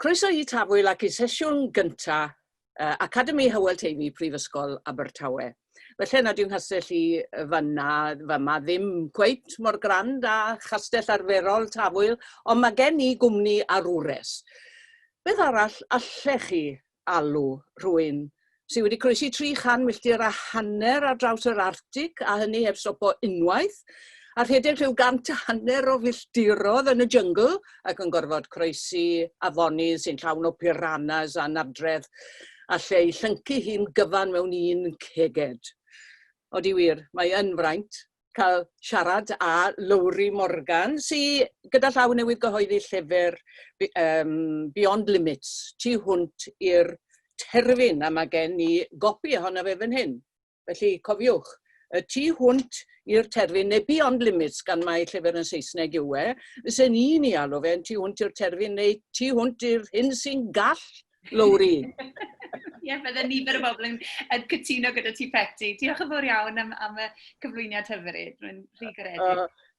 Croeso i Tafwyl ac i sesiwn gyntaf uh, Academi Hywel Teifi Prifysgol Abertawe. Felly nad yw nghastell i fanna, fama, ddim cweit mor grand â chastell arferol Tafwyl, ond mae gen i gwmni ar wres. Beth arall allech chi alw rhywun sydd wedi croesi 300 milltir a hanner ar draws yr Arctig, a hynny heb stopo unwaith, a rhedeg rhyw gant a hanner o filltirodd yn y jyngl ac yn gorfod croesi afonydd sy'n llawn o piranas a nardredd alle ei llyncu hi'n gyfan mewn un ceged. Odi wir, mae yn fraint cael siarad â Lowri Morgan, sy gyda llaw newydd gyhoeddi llyfr um, Beyond Limits, tu hwnt i'r terfyn, a mae gen i gopi ohono fe fan hyn. Felly, cofiwch, y tu hwnt i'r terfyn neu beyond limits, gan mai llyfr yn Saesneg yw e, fysen i'n ei alw fe'n tu hwnt i'r terfyn neu tu hwnt i'r hyn sy'n gall lowri. Ie, yeah, bydde nifer o bobl yn, yn cytuno gyda ti Peti. Diolch yn fawr iawn am, am y cyflwyniad hyfryd. Rwy'n rhy garedig. Uh,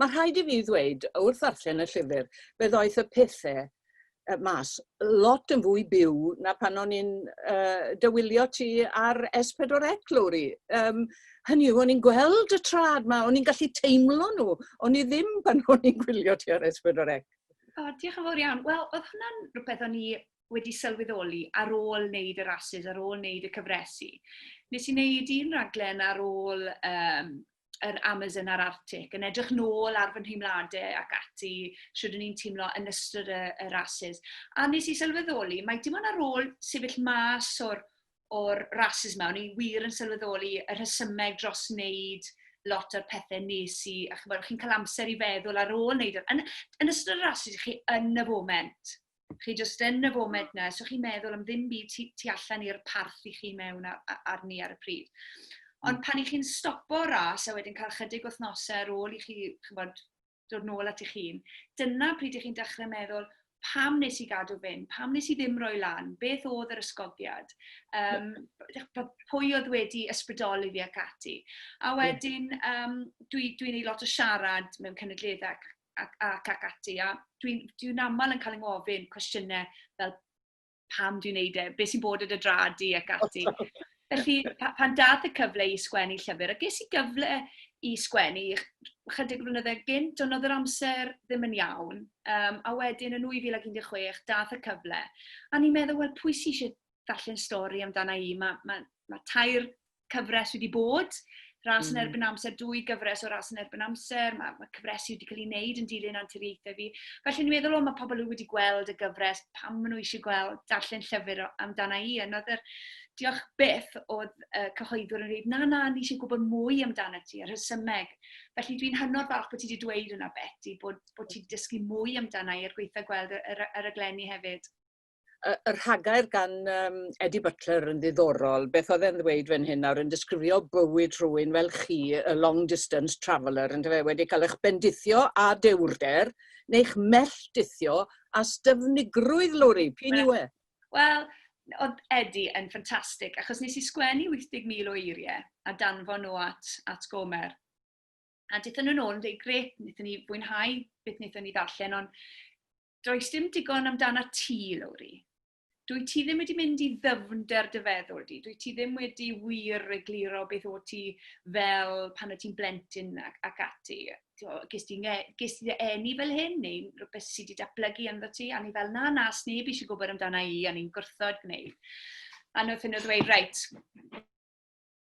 Mae rhaid i fi ddweud, wrth ddarllen y llyfr, fe ddoeth y pethau uh, mas lot yn fwy byw na pan o'n i'n uh, dywilio ti ar S4 Eglwri. Um, hynny yw, o'n i'n gweld y trad ma, o'n i'n gallu teimlo nhw, o'n i ddim pan o'n i'n gwylio ti ar S4 Eglwri. O, diolch yn fawr iawn. Wel, oedd hwnna'n rhywbeth o'n i wedi sylweddoli ar ôl wneud y rhasys, ar ôl wneud y cyfresu. Nes i wneud un raglen ar ôl um, yr Amazon a'r Arctic, yn edrych nôl ar fy nheimladau ac ati, sydd o'n i'n teimlo yn ystod y, y rhasys. A nes i sylweddoli, mae dim ond ar ôl sefyll mas o'r, or rhasys yma, o'n i wir yn sylweddoli y rhesymeg dros wneud lot o'r pethau nes i, a chi'n cael amser i feddwl ar ôl wneud, yn, yn ystod y rhasys, chi yn y foment. chi jyst yn y foment na, so chi'n meddwl am ddim byd tu, tu allan i'r parth i chi mewn ar, arni ar y pryd. Ond hmm. pan i chi'n stopo ras a wedyn cael chydig wythnosau ar ôl i chi, chybod, dod nôl at eich hun, dyna pryd i chi'n dechrau meddwl, pam nes i gadw fyn, pam nes i ddim roi lan, beth oedd yr ysgogiad, um, pwy oedd wedi ysbrydoli fi ac ati. A wedyn, um, dwi'n dwi, dwi ei lot o siarad mewn cynadleddau ac ac, ac, ac ati. A dwi'n dwi aml yn cael yng ngofyn cwestiynau fel pam dwi'n neud e, beth sy'n bod yn y dradi ac ati. Felly, pan dath y cyfle i sgwennu llyfr, a ges i gyfle i sgwennu chydig flynyddoedd gynt, ond oedd yr amser ddim yn iawn. Um, a wedyn yn 2016, dath y cyfle. A ni'n meddwl, wel, pwy sy'n eisiau darllen stori amdana i? Mae ma, ma tair cyfres wedi bod, ras mm. yn erbyn amser, dwy gyfres o ras yn erbyn amser, mae, mae cyfresu wedi cael ei wneud yn dilyn anturiaethau fi. Felly ni'n meddwl, o, mae pobl wedi gweld y gyfres, pam maen nhw eisiau gweld darllen llyfr amdana i. Yna oedd yr diolch byth oedd uh, cyhoeddwr yn dweud, na, na, ni eisiau gwybod mwy amdano ti, yr hysymeg. Felly dwi'n hynod falch bod ti wedi dweud hwnna, Betty, bod, bod ti wedi dysgu mwy amdano i ar gweithio gweld y, y, y raglenni hefyd. y, y rhagair gan um, Eddie Butler yn ddiddorol. Beth oedd e'n ddweud fan hyn nawr yn disgrifio bywyd rhywun fel chi, y long distance traveller, yn fe wedi cael eich bendithio a dewrder, neu'ch melltithio a styfnigrwydd, Lori, pyn yw e? Wel, oedd Eddie yn ffantastig, achos nes i sgwennu 80,000 o eiriau a danfo nhw at, at Gomer. A dethon nhw'n ôl yn dweud, gret, wnaethon ni fwynhau beth wnaethon ni ddarllen, ond Does dim digon amdana ti, Lowri. Dwyt ti ddim wedi mynd i ddyfnder dy feddwl di. Dwyt ti ddim wedi wir egluro beth o ti fel pan o ti'n blentyn ac, ac ati. Ges ti, ges ti enni fel hyn neu rhywbeth sydd wedi datblygu ynddo ti? A ni fel, na, na, sneb eisiau gwybod amdana i, a ni'n gwrthod gwneud. A nhw'n ddweud, reit,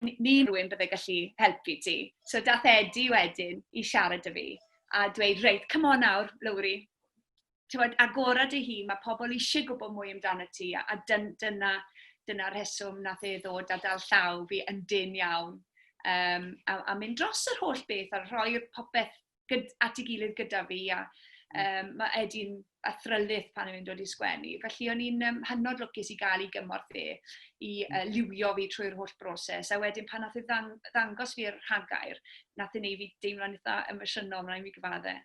ni rwy'n byddai gallu helpu ti. So dath Edi wedyn i siarad â fi a dweud, reit, come on nawr, Lowri, ti'n agora dy hun, mae pobl eisiau gwybod mwy amdano ti, a dyn, dyna, dyna rheswm nath e ddod a dal llaw fi yn dyn iawn, um, a, a mynd dros yr holl beth, a rhoi'r popeth gyd, at ei gilydd gyda fi, a um, mae Edi'n athrylith pan o'n i'n dod i sgwennu. Felly o'n i'n um, hynod lwcus i gael ei gymorth e, i uh, liwio fi trwy'r holl broses. A wedyn pan nath e ddang, ddangos fi'r rhagair, nath e neu fi deimlo'n eitha emosiynol, mae'n mi gyfadde.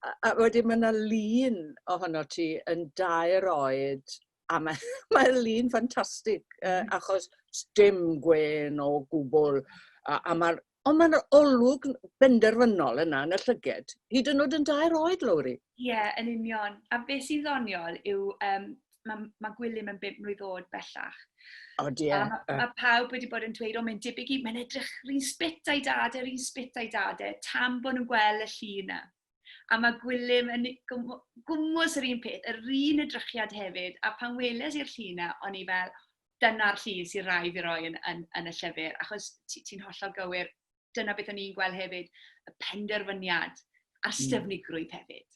a, a wedyn mae yna lun ohono ti yn dair oed a mae, mae lun ffantastig uh, achos dim gwen o gwbl a, a mae'r Ond mae'n olwg benderfynol yna yn y llyged, hyd yn oed yn dair oed, Lowri. Ie, yeah, yn union. A beth sy'n ddoniol yw, um, mae ma Gwilym yn bimp mlwydd oed bellach. O, di e. Mae pawb wedi bod yn dweud, o, mae'n debyg i, mae'n edrych rhywun spit a'i dad e, rhywun spit a'i dad e, tam bod nhw'n gweld y llu yna. A mae Gwilym yn gwmwys yr un peth, yr un edrychiad hefyd, a pan weles i'r llu yna, o'n i fel, dyna'r llun sy'n rhaid i roi yn, yn, yn y llyfr, achos ti'n ti hollol gywir, dyna beth o'n i'n gweld hefyd, y penderfyniad a'r hmm. styfnigrwydd hefyd.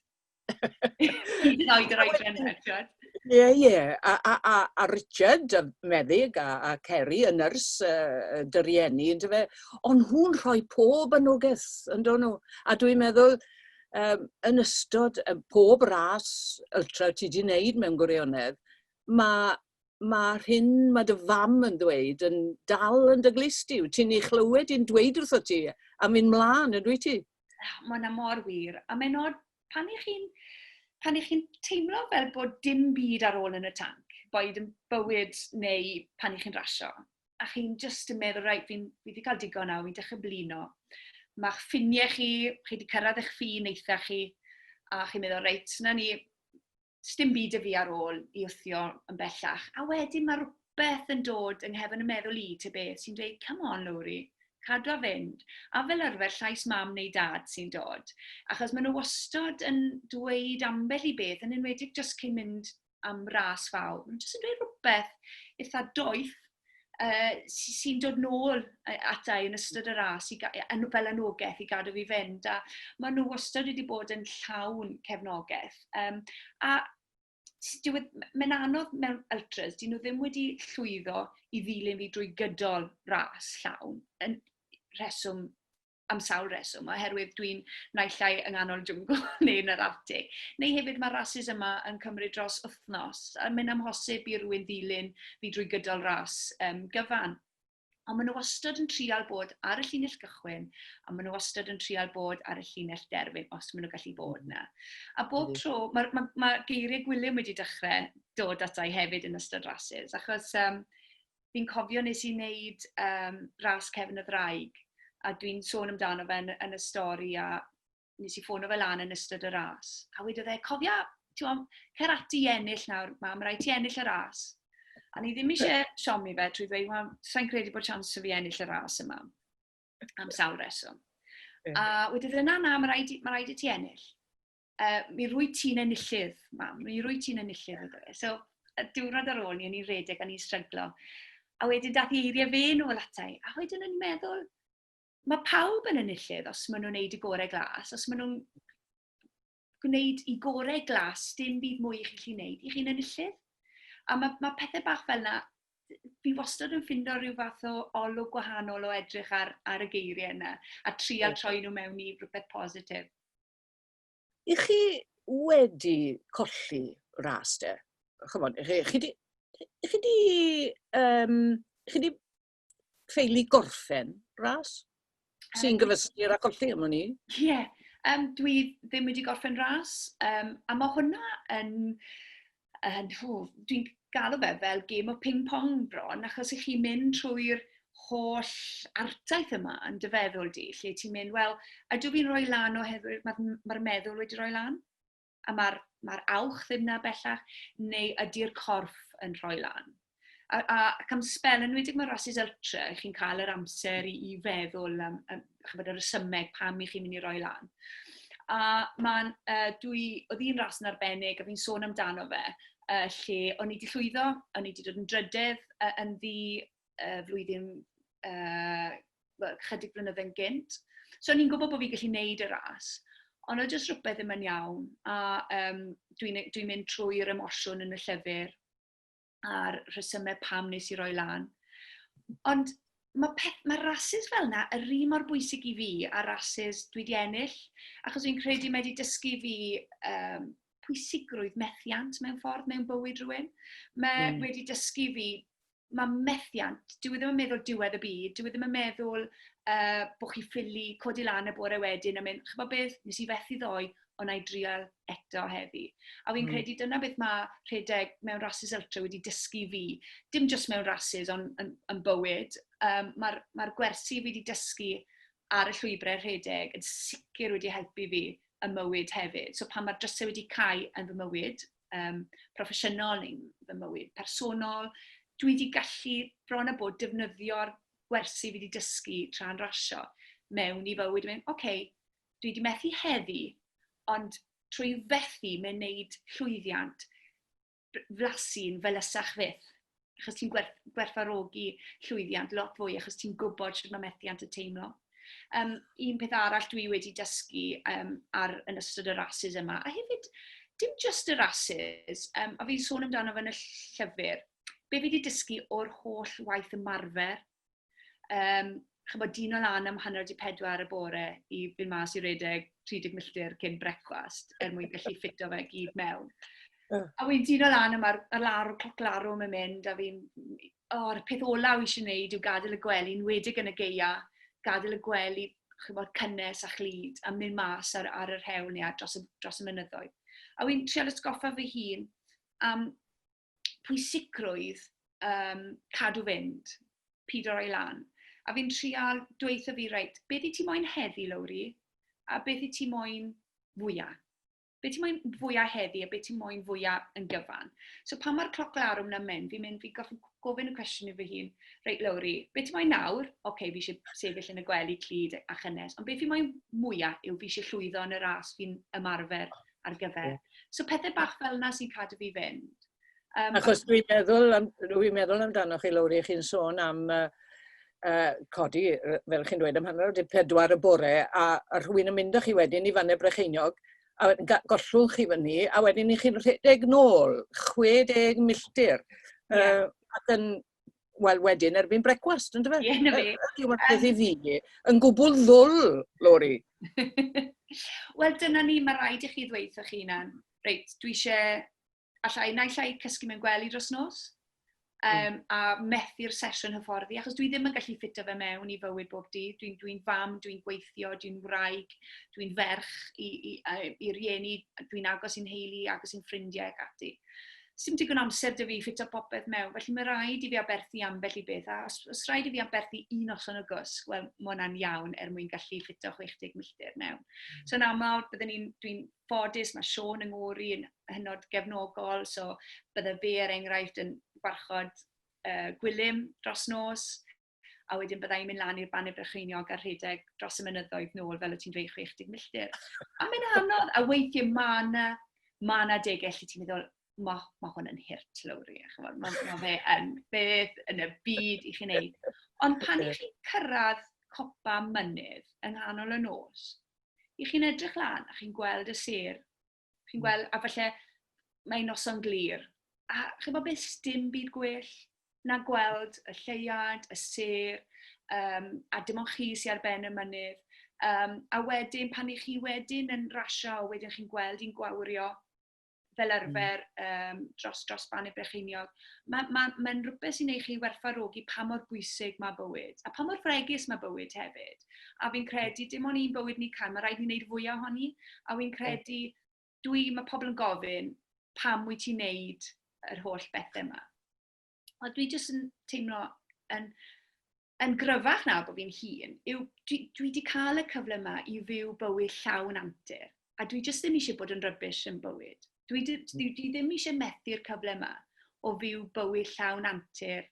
Hyd yn oed yr oedran Richard. Ie, ie. A, a, a, a Richard, y meddyg, a, a Kerry, y nyrs, uh, dyriennu, ynddo fe. Ond nhw'n rhoi pob anogaeth, ynddo nhw. A dwi'n meddwl, um, yn ystod um, pob ras ultra ti di wneud mewn gwirionedd, mae ma'r hyn ma' dy fam yn ddweud yn dal yn dy glust di, wyt ti'n ei chlywed hi'n dweud wrthot ti a mynd mlaen, yn dwyt ti? Mae hwnna mor wir, a mae'n od pan i chi'n pan i chi'n teimlo fel bod dim byd ar ôl yn y tanc, boed yn bywyd neu pan i chi'n rasio, a chi'n jyst yn meddwl, reit, fi wedi cael digon nawr, fi'n dechrau blino. Mae'ch ffiniau chi, chi wedi cyrraedd eich ffin eitha chi, a chi'n meddwl, reit, na ni, sdim byd 'da fi ar ôl i wthio yn bellach. A wedyn mae rhywbeth yn dod yng nghefn y meddwl i, te beth, sy'n dweud, come on Lowri, cadw a fynd. A fel arfer, llais mam neu dad sy'n dod. Achos maen nhw wastod yn dweud ambell i beth, yn enwedig jyst cyn mynd am ras fawr. Maen nhw jyst yn dweud rhywbeth eitha doeth, uh, sy'n dod nôl ata i yn ystod y ras i, fel anogaeth i gadw fi fynd. A maen nhw wastad wedi bod yn llawn cefnogaeth. Um, a e, mae'n anodd mewn ultras, dyn nhw ddim wedi llwyddo i ddilyn fi drwy gydol ras llawn, yn rheswm am sawl reswm, oherwydd dwi'n naill ai yng nghanol jwngl neu yn yr Arctic. Neu hefyd mae rhasys yma yn cymryd dros wythnos, a mae'n amhosib i rywun ddilyn fi drwy gydol ras um, gyfan. Ond maen nhw wastad yn trial bod ar y llinell gychwyn, a maen nhw wastad yn trial bod ar y llinell derfyn, os maen nhw'n gallu bod yna. A bob tro, mae ma, ma geiriau Gwilym wedi dechrau dod ata i hefyd yn ystod rhasys, achos um, fi'n cofio nes i wneud um, ras Cefn y Ddraig, a dwi'n sôn amdano fe yn, yn y stori, a nes i ffono fe lan yn ystod y ras. A wedodd e, cofia, ti'n gwybod, cer ati i ennill nawr, mam, rhaid ti ennill y ras. A ni ddim eisiau siomi fe trwy ddweud, wel, sa'n credu bod chance fi ennill y ras yma, am sawl reswm. A wedodd e, na, na, mae rhaid, mae rhaid i ti ennill. uh, mi rwy ti'n enillydd, mam, mi rwy ti'n enillydd, ydw e. So, y diwrnod ar ôl ni, o'n i'n redeg, o'n i'n stryglo. A wedyn dath i eiriau fe nhw o latau, a wedyn o'n i'n meddwl, mae pawb yn enillydd os maen nhw'n gwneud y gorau glas, os maen nhw'n gwneud i gorau glas, dim byd mwy i chi'n gwneud, i chi'n enillydd. A mae, mae pethau bach fel yna, fi wastad yn ffindo rhyw fath o olwg gwahanol o edrych ar, ar y geiriau yna a trial troi nhw mewn i rhywbeth positif. I chi wedi colli ras de? Chymod, i chi, chi di, i chi di, um, chi di ffeili gorffen ras? Sy'n gyfystyr â colli am hwn i? Ie, yeah. um, dwi ddim wedi gorffen ras, um, a mae hwnna yn yn, hw, dwi'n galw fe fel game o ping-pong bron, achos i chi mynd trwy'r holl artaeth yma yn dy feddwl di, lle ti'n mynd, wel, ydw fi'n rhoi lan oherwydd mae'r ma meddwl wedi rhoi lan? A mae'r ma awch ddim na bellach, neu ydy'r corff yn rhoi lan? A, a ac am spel, yn wedi mae rhasys ultra, chi'n cael yr amser i, i feddwl am, am chybod, y resymeg pam i chi'n mynd i roi lan. A mae'n, uh, dwi, oedd un ras yn arbennig, a fi'n sôn amdano fe, uh, lle o'n i wedi llwyddo, o'n i wedi dod yn drydedd uh, yn ddi uh, flwyddyn uh, well, chydig blynedd yn gynt. So o'n i'n gwybod bod fi'n gallu neud y ras, ond oedd jyst rhywbeth ddim yn iawn, a um, dwi'n dwi mynd trwy'r emosiwn yn y llyfr, a'r rhesymau pam nes i roi lan. Ond mae, peth, mae rhasys fel yna yr un mor bwysig i fi a rhasys dwi di ennill, achos fi'n credu mae wedi dysgu fi um, pwysigrwydd methiant mewn ffordd mewn bywyd rhywun. Mae mm. wedi dysgu fi, mae methiant, dwi e ddim yn meddwl diwedd y byd, dwi e ddim yn meddwl uh, bod chi ffili codi lan y bore wedyn a mynd, chyfo beth, nes i fethu ddoe, ond na i drial eto heddi. A fi'n mm. credu dyna beth mae rhedeg mewn rhasys ultra wedi dysgu fi, dim jyst mewn rhasys ond yn, yn bywyd. Um, Mae'r ma gwersi fi wedi dysgu ar y llwybrau rhedeg yn sicr wedi helpu fi y mywyd hefyd. So pan mae'r drysau wedi cael yn fy mywyd, um, proffesiynol neu'n fy mywyd personol, dwi wedi gallu bron a bod defnyddio'r gwersi fi wedi dysgu tra'n rasio mewn i fywyd. Oce, okay, dwi wedi methu heddi, ond trwy fethu mewn wneud llwyddiant, flasu'n felysach fyth. Achos ti'n gwerth, gwerthfarogi llwyddiant lot fwy, achos ti'n gwybod sut mae methiant y teimlo. Um, un peth arall dwi wedi dysgu um, ar, yn ystod y rhasys yma, a hefyd, dim just y rhasys, um, a fi'n sôn amdano fe yn y llyfr, be fi wedi dysgu o'r holl waith ymarfer Um, chymod, dyn o lan am hanner di pedwar y bore i fynd mas i redeg 30 milltir cyn brecwast er mwyn gallu ffito fe gyd mewn. A wy'n dyn o lan am ar, ar lawr, cloc larwm yn mynd, a fi'n, o'r peth olaf eisiau gwneud yw gadael y gwely, yn wedig yn y geia, gadael y gwely, chi'n bod, cynnes a chlyd, a mynd mas ar, ar yr hewl neu dros, dros y mynyddoedd. A wy'n trial ysgoffa fy hun am pwysigrwydd um, cadw fynd, pyd o'r ailan. A fi'n trial dweitha fi, reit, beth i ti moyn heddi, Lowri, a beth i ti moyn fwyaf? Beth i moyn fwyaf heddi a beth i moyn fwyaf yn gyfan? So pan mae'r cloc larwm na'n mynd, fi'n mynd, fi gofyn, gofyn y cwestiwn i fy hun, reit, Lowri, beth i moyn nawr? Oce, okay, fi eisiau sefyll yn y gwely clyd a chynnes, ond beth i moyn mwyaf yw fi eisiau llwyddo yn y ras fi'n ymarfer ar gyfer. Yeah. So pethau bach fel yna sy'n cadw fi fynd. Um, Achos dwi'n meddwl, am, dwi meddwl amdano chi, Lowri, chi'n sôn am uh, uh, codi, fel chi'n dweud, am hanner o dip pedwar y bore, a, a rhywun yn mynd â chi wedyn i fanne brecheiniog, a gollwng chi fyny, a wedyn i chi'n rhedeg nôl 60 milltir. Yeah. Uh, ac yn, wel wedyn erbyn brecwast, yn dyfa? Ie, na fe. Ydy o'n peth i fi, yn gwbl ddwl, Lori. wel, dyna ni, mae rhaid i chi ddweud wrthych chi hunan, reit, dwi eisiau, allai, na allai cysgu mewn gwely dros nos, um, a methu'r sesiwn hyfforddi, achos dwi ddim yn gallu ffito fe mewn i fywyd bob dydd. Dwi'n dwi, fam, dwi'n gweithio, dwi'n wraig, dwi'n ferch i, i, i, i rieni, dwi'n agos i'n heili, agos i'n ffrindiau ac ati. 'sdim digon o amser 'da fi i ffitio popeth mewn, felly mae rhaid i fi aberthu ambell i beth, a os os rhaid i fi aberthu un noson o gwsg, wel, mae hwnna'n iawn er mwyn gallu ffitio 60 milltir mewn. Hmm. So yn aml, byddwn i'n, dwi'n ffodus, mae Siôn yng ngŵr i yn hynod gefnogol, so bydde fe er enghraifft yn gwarchod uh, gwylym dros nos, a wedyn bydda i'n mynd lan i'r Baned Brycheiniog a rhedeg dros y mynyddoedd nôl, fel o ti'n dweud, 60 milltir. A mae'n anodd, a weithiau mae yna, mae yna degell lle ti'n meddwl, mae ma hwn yn hirt, Lowri, a chymod, mae ma fe yn beth yn y byd i chi'n neud. Ond pan i chi'n cyrraedd copa mynydd yng nghanol y nos, i chi'n edrych lan a chi'n gweld y sêr Chi'n hmm. gweld, a falle mae'n noson glir. A chi'n gweld beth dim byd gwell na gweld y lleiad, y ser, um, a dim ond chi sy'n ar ben y mynydd. Um, a wedyn, pan i chi wedyn yn rasio, wedyn chi'n gweld i'n gwawrio fel hmm. arfer um, dros, dros ban y brecheiniog, mae'n ma, ma, ma rhywbeth sy'n ei chi werthfarogi pa mor bwysig mae bywyd, a pa mor fregus mae bywyd hefyd. a fi'n credu dim ond un bywyd ni cael, mae rhaid ni wneud fwy ohoni, a fi'n credu, dwi, mae pobl yn gofyn, pam wyt ti'n neud yr holl bethau yma? A dwi jyst yn teimlo yn, yn gryfach nawr bod fi'n hun, yw dwi, dwi wedi cael y cyfle yma i fyw bywyd llawn antur, a dwi jyst ddim eisiau bod yn rybys yn bywyd. Dwi, dwi, dwi ddim eisiau methu'r cyfle yma o fyw bywyd llawn antur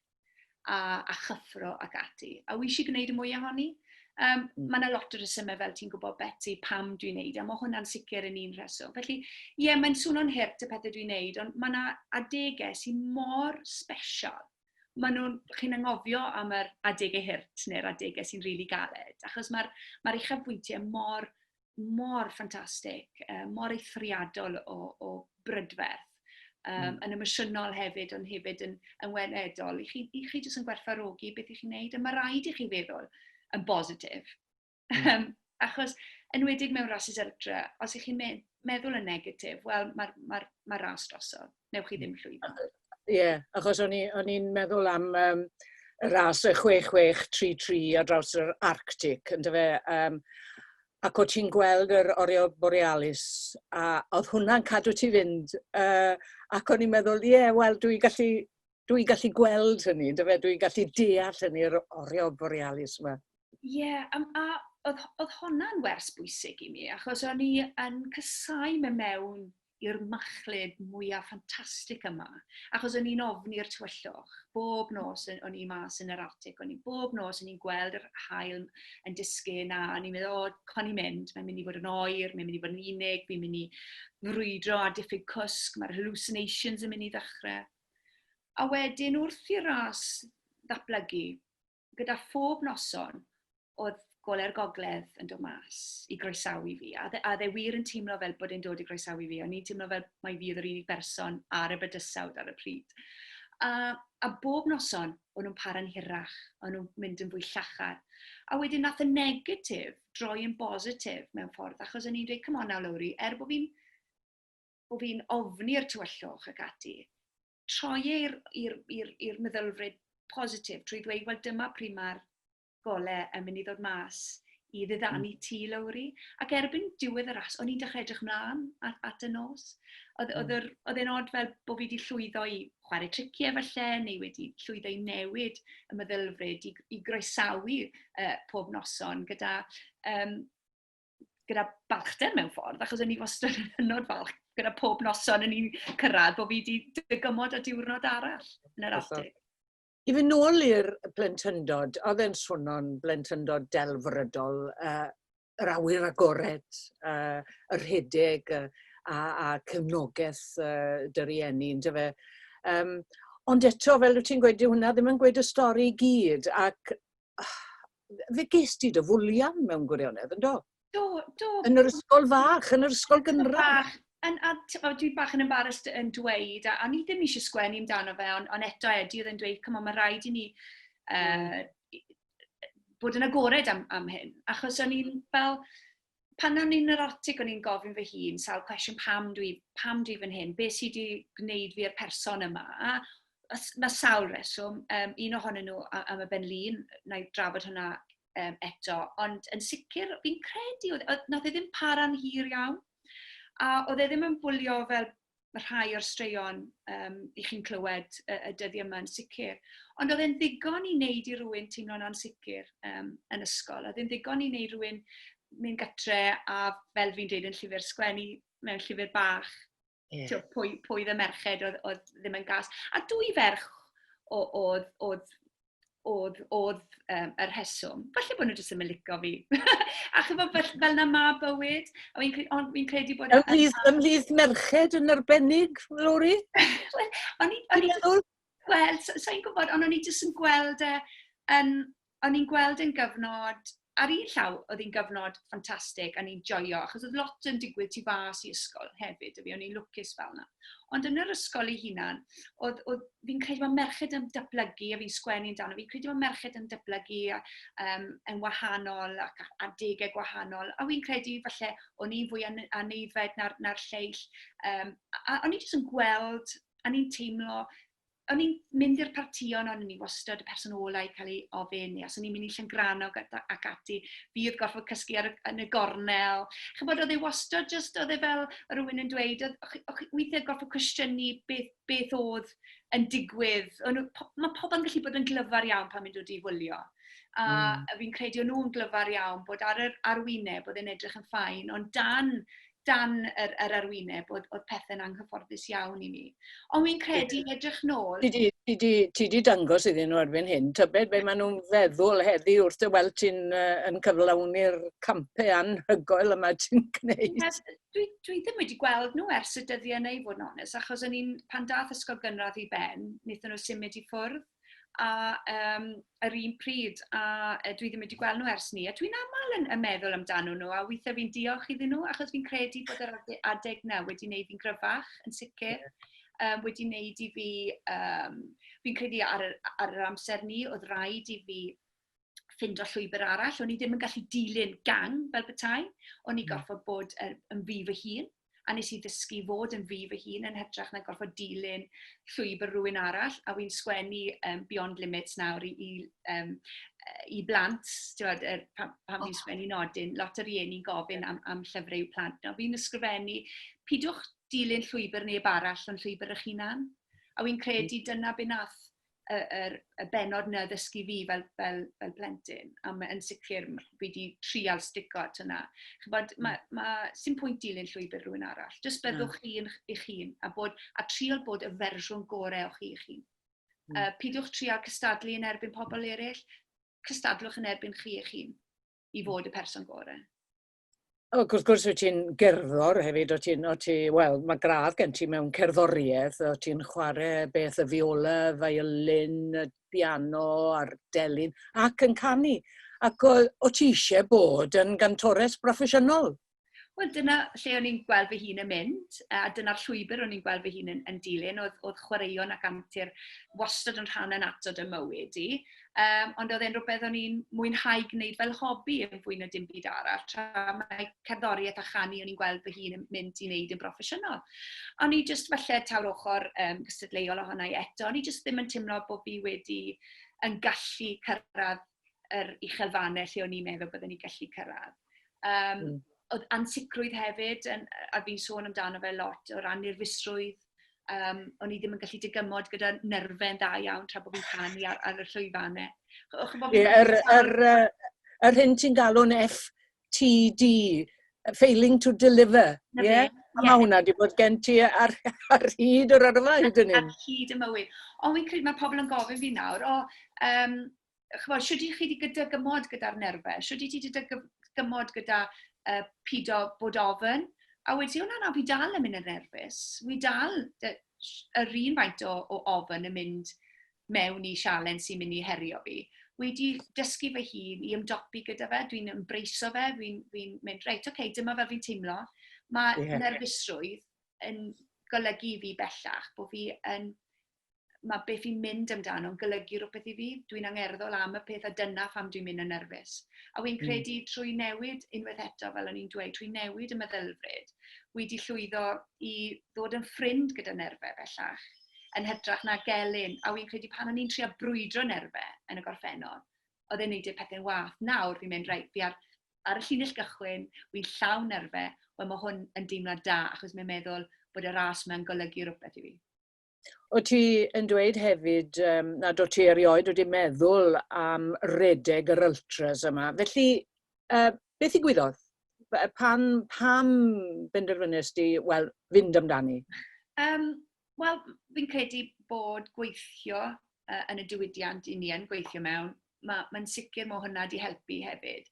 a, a chyffro ac ati. A wy eisiau gwneud y mwy ohoni. Um, mm. Mae yna lot o resymau fel ti'n gwybod Betty pam dwi'n neud, a mae hwnna'n sicr yn un rheswm. Felly, ie, yeah, mae'n swnio'n hirt y pethau dwi'n neud, ond mae yna adegau sy'n mor special. Mae nhw'n, chi'n angofio am yr adegau hirt neu'r adegau sy'n rili really galed, achos mae'r mae uchafbwyntiau mor mor ffantastig, uh, mor eithriadol o, o brydferth, um, mm. yn emosiynol hefyd, ond hefyd yn, yn weledol. I chi, i chi jyst yn gwerthfarogi beth i chi'n neud, a mae rhaid i chi feddwl yn bositif. Mm. Um, achos, yn wedig mewn rhasys electra, os ych chi'n me meddwl yn negatif, wel, mae'r ma, ma, ma ras drosodd. newch chi ddim llwyddo. Ie, yeah, achos o'n i'n meddwl am um, y ras y 6633 ar draws yr Arctic, ynddo fe, um, ac o ti'n gweld yr orio borealis, a oedd hwnna'n cadw ti fynd, uh, ac o'n i'n meddwl, ie, yeah, wel, dwi'n gallu, dwi gallu gweld hynny, ynddo fe, dwi'n gallu deall hynny, yr orio borealis yma. Ie, yeah, um, a oedd, oedd hwnna'n wers bwysig i mi, achos o'n i yn cysau me mewn i'r machlud mwyaf ffantastig yma, achos o'n i'n ofn i'r tywyllwch. Bob nos o'n i mas yn yr artig, o'n i bob nos o'n i'n gweld yr hael yn disgyn, a o'n i'n meddwl, o, oh, con i'n mynd, mae'n mynd i fod yn oer, mae'n mynd i fod yn unig, fi'n mynd i frwydro a diffyg cwsg, mae'r hallucinations yn mynd i ddechrau. A wedyn wrth i'r ras ddatblygu, gyda phob noson oedd gole'r gogledd yn dod mas i groesawu fi, a dde, a dde wir yn teimlo fel bod e'n dod i groesawu fi, o'n i'n teimlo fel mae fi oedd yr unig berson ar y bydysawd ar y pryd. A, a bob noson, o'n nhw'n para'n hirach, o'n nhw'n mynd yn fwy llachar. A wedyn nath y negatif droi yn bositif mewn ffordd, achos o'n i'n dweud, come on now Lowri, er bod fi'n bo fi ofni'r tywyllwch ac ati, troi e i'r meddylfryd positif trwy ddweud, wel dyma pryd mae'r gole yn mynd i ddod mas i ddiddanu mm. ti, Lowri. Ac erbyn diwedd y ras, o'n i'n dechrau edrych mlaen at, at y nos. Oedd, mm. oedd, oedd e'n od fel bod fi wedi llwyddo i chwarae triciau falle, neu wedi llwyddo i newid y meddylfryd, i, i groesawu uh, pob noson gyda um, gyda balchder mewn ffordd, achos o'n i wastad yn hynod falch gyda pob noson yn i'n cyrraedd bod fi wedi dygymod a diwrnod arall yn yr atig. I fy nôl i'r blentyndod, oedd e'n swno'n blentyndod delfrydol, uh, yr awyr agored, uh, yr rhedeg uh, a, a cefnogaeth uh, dy rieni, ynddo fe. Um, ond eto, fel wyt ti'n gweud, hwnna ddim yn gweud y stori i gyd, ac uh, fe ges di dy fwlian mewn gwirionedd, yn do? Do, do. Yn yr ysgol fach, yn yr ysgol gynradd. Yn, a o, dwi bach yn embarrassed yn dweud, a, a ni ddim eisiau sgwennu amdano fe, ond on eto Eddie oedd yn dweud, cymod, mae rhaid i ni uh, bod yn agored am, am hyn. Achos o'n i'n fel, pan o'n i'n yr atig o'n i'n gofyn fy hun sawl cwestiwn pam dwi pam dwi fan hyn be sydd wedi gwneud fi i'r person yma a mae sawl reswm um, un ohonyn nhw am y ben lun na i drafod hwnna um, eto ond yn sicr fi'n credu oedd nath e ddim para'n hir iawn a oedd e ddim yn bwlio fel mae rhai o'r straeon um, i chi'n clywed y, y dyddiau yma yn sicr. Ond oedd e'n ddigon i wneud i rywun teimlo'n ansicr um, yn ysgol. Oedd e'n ddigon i wneud rhywun mynd gytre a fel fi'n dweud yn llyfr sgwennu mewn llyfr bach. Yeah. Tio, pwy, pwy dde merched oedd, oedd ddim yn gas. A dwy ferch oedd, oedd oedd, oedd um, y rheswm. Falle bod nhw jyst yn licio fi. a chyfo fel, fel na ma bywyd, a fi'n credu, fi credu bod... Ymhlith, ymhlith merched yn arbennig, Lori? Wel, o'n i'n gweld, sa'n so, so gwybod, ond o'n i'n jyst yn gweld e, yn, o'n i'n gweld yn gyfnod ar un llaw, oedd hi'n gyfnod ffantastig a ni'n joio, achos oedd lot yn digwydd tu fas i ysgol hefyd, a fi o'n i'n lwcus fel yna. Ond yn yr ysgol ei hunan, oedd, oedd fi'n credu bod merched yn datblygu, a fi'n sgwennu amdano, fi'n credu bod merched yn datblygu um, yn wahanol ac ar degau gwahanol, a fi'n credu falle o'n i'n fwy aneifed na'r, na'r lleill, um, a, a o'n i'n jyst yn gweld, a ni'n teimlo o'n i'n mynd i'r partïon, o'n i wastad y person ola' i cael ei ofyn, neu os o'n i'n mynd i Llangrannog ac ati, fi oedd gorfod cysgu ar y... yn y gornel. Chimod, oedd e wastad jyst... oedd e fel o' rywun yn dweud, oedd... o' chi... o' chi weithiau gorfod cwestiynu beth... beth oedd yn digwydd. O'n nhw... po- ma' pobl yn gallu bod yn glyfar iawn pan maen nhw'n dod i wylio, a fi'n credu o'n nhw'n glyfar iawn bod ar yr arwyneb oedd e'n edrych yn fine, ond dan dan yr, yr arwyneb oedd, oedd pethau'n anghyfforddus iawn i mi. Ond fi'n credu edrych nôl... Ti di, ti di, ti di dangos iddyn nhw erbyn hyn, tybed be maen nhw'n feddwl heddi wrth dy weld ti'n uh, yn cyflawni'r campau anhygoel yma ti'n gwneud? Yes, dwi, dwi ddim wedi gweld nhw ers y dyddiau neu fod yn onest, achos o'n i'n, pan dath ysgol gynradd i ben, wnaethon nhw symud i ffwrdd. a yym yr un pryd a yy dwi ddim wedi gweld nhw ers 'ny a dwi'n aml yn yn meddwl amdanyn nhw a weithiau fi'n diolch iddyn nhw achos fi'n credu bod yr ade- adeg 'na wedi wneud fi'n gryfach yn sicr yym wedi wneud i fi yym fi'n credu ar yr ar yr amser 'ny oedd raid i fi ffindo llwybr arall. O'n i ddim yn gallu dilyn gang fel bethau. O'n i hmm. gorfod bod er, yn fi fy hun, a nes i ddysgu fod yn fi fy hun yn hytrach na gorfod dilyn llwybr rhywun arall, a wy'n sgwennu um, Beyond Limits nawr i, i, um, i blant, tiwod, er, pan, pan oh. fi'n sgwennu nodyn, lot o rieni'n gofyn am, am llyfrau i'w plant. Nawr, fi'n ysgrifennu, pidwch dilyn llwybr neb arall ond llwybr eich hunan. A wy'n credu dyna beth nath y, yr, y benod na ddysgu fi fel, fel, fel plentyn, a mae yn sicr fi wedi trial stico at hynna. Chybod, mae, mm. ma, sy'n pwynt dilyn llwybr rhywun arall. Just byddwch chi yn eich hun a, bod, a trial bod y fersiwn gorau o'ch chi eich hun. Mm. Uh, pidiwch trial cystadlu yn erbyn pobl eraill, cystadlwch yn erbyn chi eich hun i mm. fod y person gorau. ac wrth gwrs wyt ti'n gerddor hefyd, o ti'n, o ti, wel, mae gradd gen ti mewn cerddoriaeth, o ti'n chwarae beth y fiola, violin, y piano a'r delyn, ac yn canu. Ac o, o ti eisiau bod yn gantores broffesiynol? Wel, dyna lle o'n i'n gweld fy hun yn mynd, a dyna'r llwybr o'n i'n gweld fy hun yn, yn dilyn, oedd, oedd chwaraeon ac antur wastad yn rhan yn atod y mywyd i. Yym, ond oedd e'n rywbeth o'n i'n mwynhau gwneud fel hobi yn fwy na dim byd arall, tra mae cerddoriaeth a chanu o'n i'n gweld fy hun yn mynd i wneud yn broffesiynol. O'n i jyst falle taw'r ochr yym gystadleuol ohona i eto, o'n i jyst ddim yn teimlo bod fi wedi yn gallu cyrraedd yr uchel fannau lle o'n i'n meddwl byddwn i'n gallu cyrraedd. Yym... mm. ...oedd ansicrwydd hefyd, yn, a fi'n sôn amdano fe lot, o ran nerfusrwydd, Um, o'n i ddim yn gallu digymod gyda nerfau'n da iawn tra bod fi'n canu ar, ar y llwyfannau. Yr, yr, yr hyn ti'n galw'n FTD, failing to deliver. Ie? Yeah? A mae hwnna wedi bod gen ti ar, ar hyd yr yrfa hyd yn hyn. Ar hyd y mywyd. Ond fi'n credu mae pobl yn gofyn fi nawr, o, um, ch'mod, shwd i chi 'di gydygymod gyda'r nerfe, shwd i ti 'di gymod gyda uh, pido bod ofyn, a wedi hwnna na, fi dal yn mynd yn nerfus, fi dal yr un faint o, o ofyn yn mynd mewn i sialen sy'n mynd i herio fi. Wedi dysgu fy hun i ymdopi gyda fe, dwi'n ymbraiso fe, fi'n fi mynd, reit, oce, okay, dyma fel fi'n teimlo. Mae yeah. nerfusrwydd yn golygu fi bellach bod fi yn mae beth fi'n mynd amdano'n golygu rhywbeth i fi, dwi'n angerddol am y peth a dyna pham dwi'n mynd yn nerfus. A wy'n hmm. credu mm. trwy newid unwaith eto, fel o'n i'n dweud, trwy newid y meddylfryd, wy di llwyddo i ddod yn ffrind gyda nerfau bellach, yn hytrach na gelyn. A wy'n credu pan o'n i'n trio brwydro nerfau yn y gorffennol, oedd e'n neud y pethau'n wath. Nawr fi'n mynd, reit, fi ar, ar y llinell gychwyn, wy'n llawn nerfau, wel mae hwn yn deimlad da, achos mae'n meddwl bod y ras mae'n golygu rhywbeth i fi. O ti yn dweud hefyd um, nad o ti erioed wedi meddwl am redeg yr ultras yma. Felly, uh, beth i gwyddodd? Pan, pam benderfynus di, wel, fynd amdani? Um, wel, fi'n credu bod gweithio uh, yn y diwydiant i ni yn gweithio mewn, mae'n ma sicr mae hwnna wedi helpu hefyd.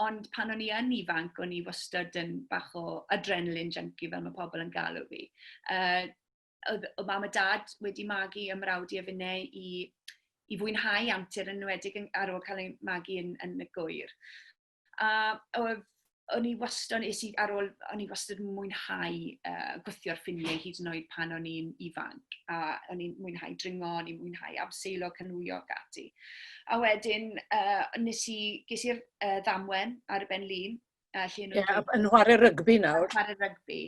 Ond pan o'n i yn ifanc, o'n i wastad yn bach o adrenalin junkie fel mae pobl yn galw fi. Uh, oedd, oedd mam a dad wedi magu ym mrawd i a finnau i, i fwynhau antur yn enwedig ar ôl cael ei magu yn, yn y gwyr. A oedd o'n i wastad, nes i ar ôl, o'n i wastad yn mwynhau uh, gwythio'r ffiniau hyd yn oed pan o'n i'n ifanc. A o'n i'n mwynhau dringo, o'n i'n mwynhau abseilo, canwio ac ati. A wedyn, uh, nes i, ges i'r uh, ddamwen ar y ben lun, A lle nhw... Ie, yn chwarae rygbi nawr. Chwarae rygbi.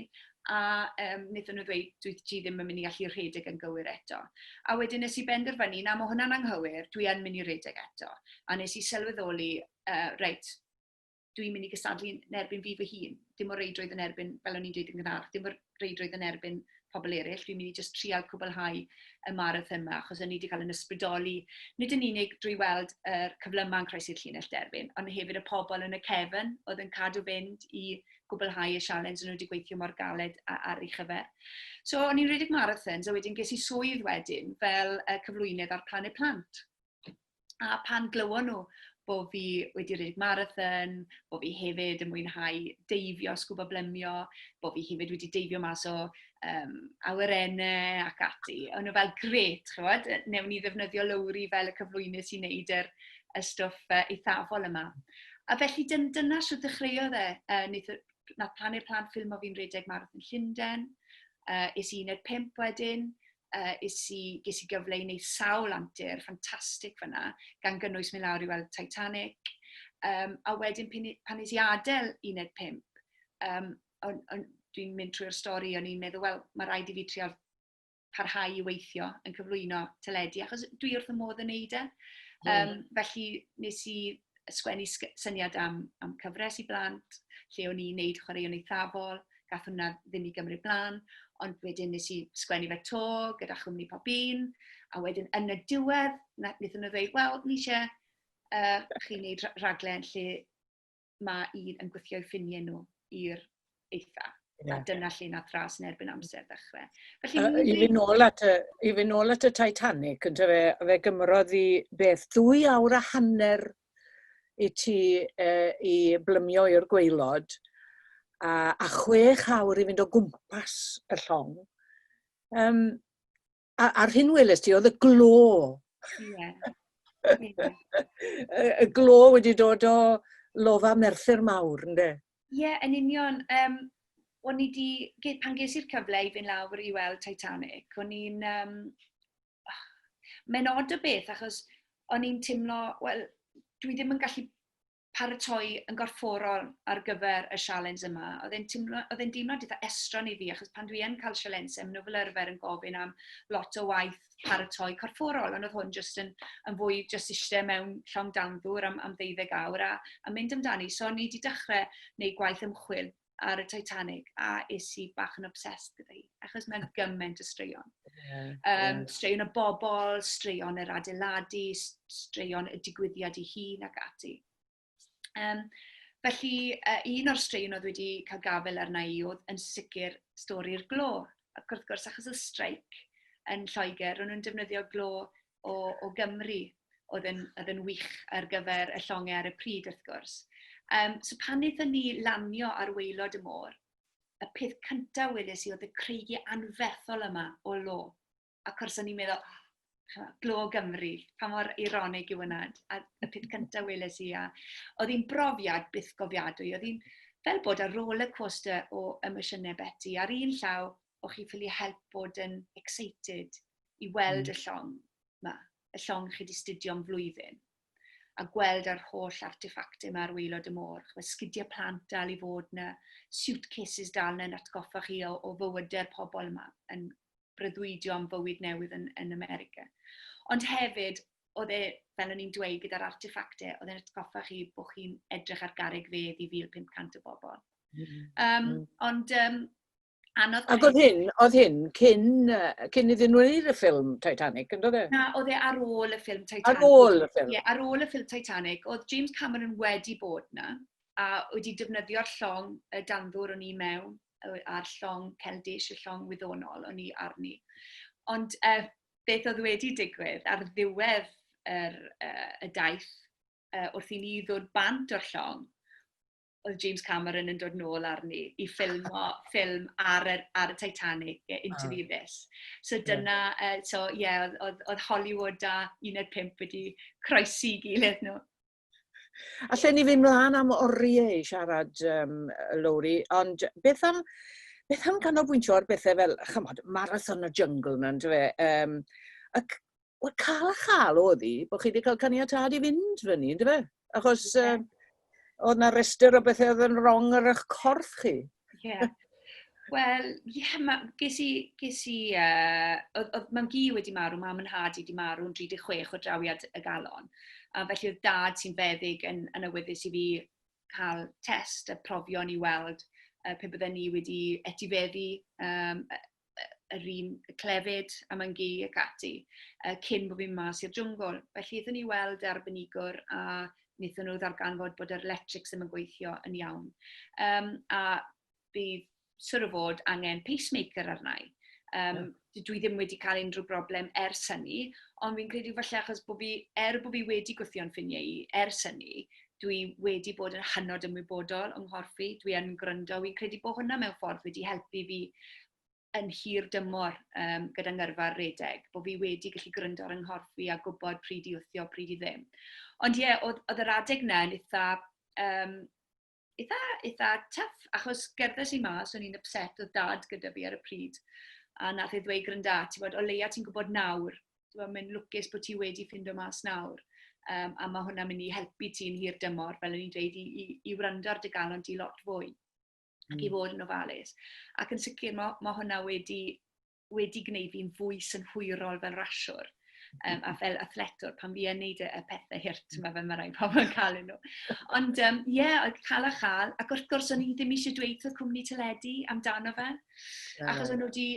A um, wnaethon nhw ddweud, dwi ti ddim yn mynd i allu rhedeg yn gywir eto. A wedyn nes i benderfynu, na, mae hwnna'n anghywir, dwi yn mynd i rhedeg eto. A nes i sylweddoli, uh, reit, dwi'n mynd i gystadlu yn erbyn fi fy hun. Dim o reidrwydd yn erbyn, fel o'n i'n dweud yn gynharach, dim o'r reidrwydd yn erbyn pobl eraill, fi'n mynd i jyst trial cwblhau y marathon yma, achos o'n i wedi cael yn ysbrydoli, nid yn unig drwy weld y er cyflymau yn croesi'r llinell derfyn, ond hefyd y pobl yn y cefn oedd yn cadw fynd i gwblhau y sialens o'n nhw wedi gweithio mor galed ar ei chyfer. So, o'n i'n rhedeg marathons, a wedyn ges i swydd wedyn fel cyflwynydd ar Planet Plant. A pan glywon nhw bo fi wedi rhedeg marathon, bo fi hefyd yn mwynhau deifio, sgwbo blemio, bo fi hefyd wedi deifio mas o um, awyrennau ac ati. O'n nhw fel, gret, chywod, newn ni ddefnyddio lowri fel y cyflwynydd sy'n neud yr, y stwff uh, eithafol yma. A felly dyn, dyna sy'n dechreuodd e, uh, nath, nath pan i'r plant ffilm o fi'n rhedeg marathon Llundain, uh, es i 15 wedyn, uh, is i, ges i gyfle i wneud sawl antur ffantastig fyna, gan gynnwys mynd lawr i weld Titanic. Um, a wedyn pan, pan nes i adael 15, um, on, on, dwi'n mynd trwy'r stori, o'n i'n meddwl, wel, mae rhaid i fi trio parhau i weithio yn cyflwyno teledu, achos dwi wrth y modd yn neud e. Um, felly nes i sgwennu syniad am, am cyfres i blant, lle o'n i'n neud chwaraeon eithafol, gath hwnna ddim i gymryd blaen, ond wedyn nes i sgwennu fe to gyda chwmni pob un, a wedyn yn y diwedd, wnaethon nhw ddweud, wel, ni eisiau uh, chi wneud rhaglen lle mae un yn gweithio i ffiniau nhw i'r eitha. Yeah. A dyna lle nath ras yn erbyn amser ddechrau. Felly, uh, I fy nôl at y, i fy nôl at y Titanic, yn fe, fe gymrodd i beth dwy awr a hanner i ti uh, i blymio i'r gweilod, a, a chwech awr i fynd o gwmpas y llong. Um, A, a'r hyn weles ti, oedd y glo. Ie. y, y glo wedi dod o lofa Merthyr Mawr, ynddo? Ie, yeah, yn union. Um, o'n i di, pan ges i'r cyfle i fynd lawr i weld Titanic, o'n i'n... Um, oh, Mae'n odd y beth, achos o'n i'n teimlo, wel, dwi ddim yn gallu paratoi yn gorfforol ar gyfer y sialens yma. Oedd e'n timlo, oedd e'n deimlad eitha estron i fi, achos pan dwi yn cael sialensau, maen nhw fel arfer yn gofyn am lot o waith paratoi corfforol, ond oedd hwn jyst yn, yn fwy jyst eisiau mewn llong dan ddŵr am, am ddeuddeg awr a, a mynd amdani. So, ni wedi dechrau wneud gwaith ymchwil ar y Titanic a es i bach yn obsessed gyda hi, achos mae'n gymaint o straeon. Yeah, um, Straeon y bobl, straeon yr adeiladu, straeon y digwyddiad i hun ac ati. Um, felly, uh, un o'r straeon oedd wedi cael gafel arna i oedd yn sicr stori'r glo. Ac wrth gwrs, achos y streic yn Lloegr, ro'n nhw'n defnyddio glo o, o Gymru oedd yn, oedd yn wych ar gyfer y llongau ar y pryd wrth gwrs. Um, so pan wnaethon ni lanio ar weilod y môr, y peth cyntaf weles i oedd y creigu anfethol yma o lo. Ac wrth o'n i'n meddwl, oh, glo Gymru, pa mor ironig yw hwnna. A y peth cyntaf weles i, a oedd hi'n brofiad byth gofiadwy. Oedd hi'n fel bod ar roller coaster o emosiynau Betty. Ar un llaw, o chi ffili help bod yn excited i weld mm. y llong yma, y llong chi wedi studio am flwyddyn, a gweld yr holl artefactau yma ar weilod y môr, chwe sgidiau plant dal i fod yna, suitcases dal yna yn atgoffa chi o, o fywydau'r pobl yma, yn brydwydio am fywyd newydd yn, yn America. Ond hefyd, oedd e, fel o'n i'n dweud, gyda'r artefactau, oedd e'n atgoffa chi bod chi'n edrych ar garreg fedd i 1500 o bobl. Um, mm. Ond um, Anodd. Ac oedd hyn, oedd hyn cyn, uh, cyn iddyn nhw wneud y ffilm Titanic, yn dod e? Na, oedd e ar ôl y ffilm Titanic. Ar ôl y ffilm? Ie, yeah, ar ôl y ffilm Titanic. Oedd James Cameron wedi bod na, a wedi defnyddio'r llong y danddwr o'n i mewn, a'r llong celdish, y llong wyddonol o'n i arni. Ond uh, beth oedd wedi digwydd ar ddiwedd yr, uh, y daith uh, wrth i ni ddod bant o'r llong, oedd James Cameron yn dod nôl arni i ffilmo ffilm ar, yr, ar y Titanic, Into the Abyss. So dyna, yeah. uh, so ie, yeah, oedd, oedd Hollywood a 15 wedi croesi i gilydd nhw. A lle ni fynd mlaen am oriau i siarad, um, Lowri, ond beth am, beth am canolbwyntio ar bethau fel, chymod, Marathon y Jungle, mae'n dweud, um, ac Wel, cael a chael oedd hi, bod chi wedi cael caniatad i fynd fyny, ynddo fe? Achos yeah. um, oedd na rester o bethau oedd yn wrong ar eich corff chi. Ie. Yeah. Wel, ie, yeah, ma, ges i, ges i, uh, oedd, oedd mam gi wedi marw, mam yn had i wedi marw yn 36 o drawiad y galon. A felly oedd dad sy'n feddyg yn, yn awyddus i fi cael test a profion i weld uh, pe bydden ni wedi etifeddu um, yr un clefyd a mae'n gi ac ati, uh, cyn bod fi'n mas i'r jwngl. Felly ydyn ni weld e arbenigwr a wnaethon nhw ddarganfod bod yr electrics ddim yn gweithio yn iawn. Um, a bydd syr o fod angen pacemaker arna i. Um, yeah. Dwi ddim wedi cael unrhyw broblem ers hynny, ond fi'n credu falle achos bod fi, er bod fi wedi gwythio'n ffiniau i ers hynny, dwi wedi bod yn hynod ymwybodol yng nghorff i, dwi yn gwrando, fi'n credu bod hwnna mewn ffordd wedi helpu fi yn hir dymor um, gyda ngyrfa'r redeg, bod fi wedi gallu gwrando ar yng nghorff fi a gwybod pryd i wthio, pryd i ddim. Ond ie, yeah, oedd, oedd yr adeg na yn eitha, um, eitha, eitha tuff, achos gerddes i mas, o'n i'n upset o dad gyda fi ar y pryd, a nath ei ddweud grynda, ti'n bod, o leia ti'n gwybod nawr Wel, mae'n lwcus bod ti wedi ffindo mas nawr, um, a mae hwnna'n mynd i helpu ti'n hir dymor, fel o'n i'n dweud, i, i, i wrando ar dy galon di lot fwy, ac mm. i fod yn ofalus. Ac yn sicr, mae, mae hwnna wedi, wedi gwneud fi'n fwy synhwyrol fel rasiwr, um, a fel athletwr, pan fi yn neud y, y pethau hirt, mm. mae fe mae rhaid pobl yn cael nhw. Ond, ie, um, yeah, oedd cael a chael, ac wrth gwrs, o'n i ddim eisiau dweud wrth cwmni teledu amdano fe, achos o'n nhw wedi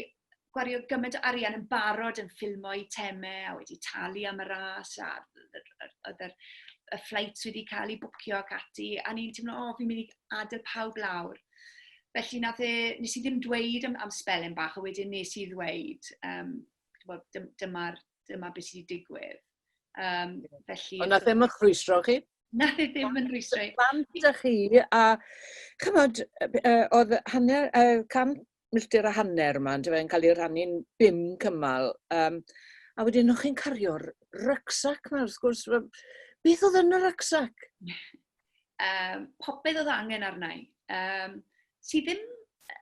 gwario gymaint o arian yn barod yn ffilmo i temau a wedi talu am y ras a oedd yr y flights wedi cael eu bwcio ac ati, a ni'n teimlo, o, fi'n mynd i adael pawb lawr. Felly nath e, nes i ddim dweud am, am spelen bach, a wedyn nes i ddweud, um, dyma'r dyma beth sydd wedi digwydd. Um, felly... Ond nath ddim yn chwysro chi? Nath e ddim yn rhwystro i. Plant â chi, a chymod, oedd hanner, uh, cam, milltir a hanner yma, yndyfe, yn cael ei rannu'n bum cymal. Um, a wedyn o'ch chi'n cario'r rucksack yma, wrth gwrs. Beth oedd yn y rucksack? um, popeth oedd angen arna i. Um, si ddim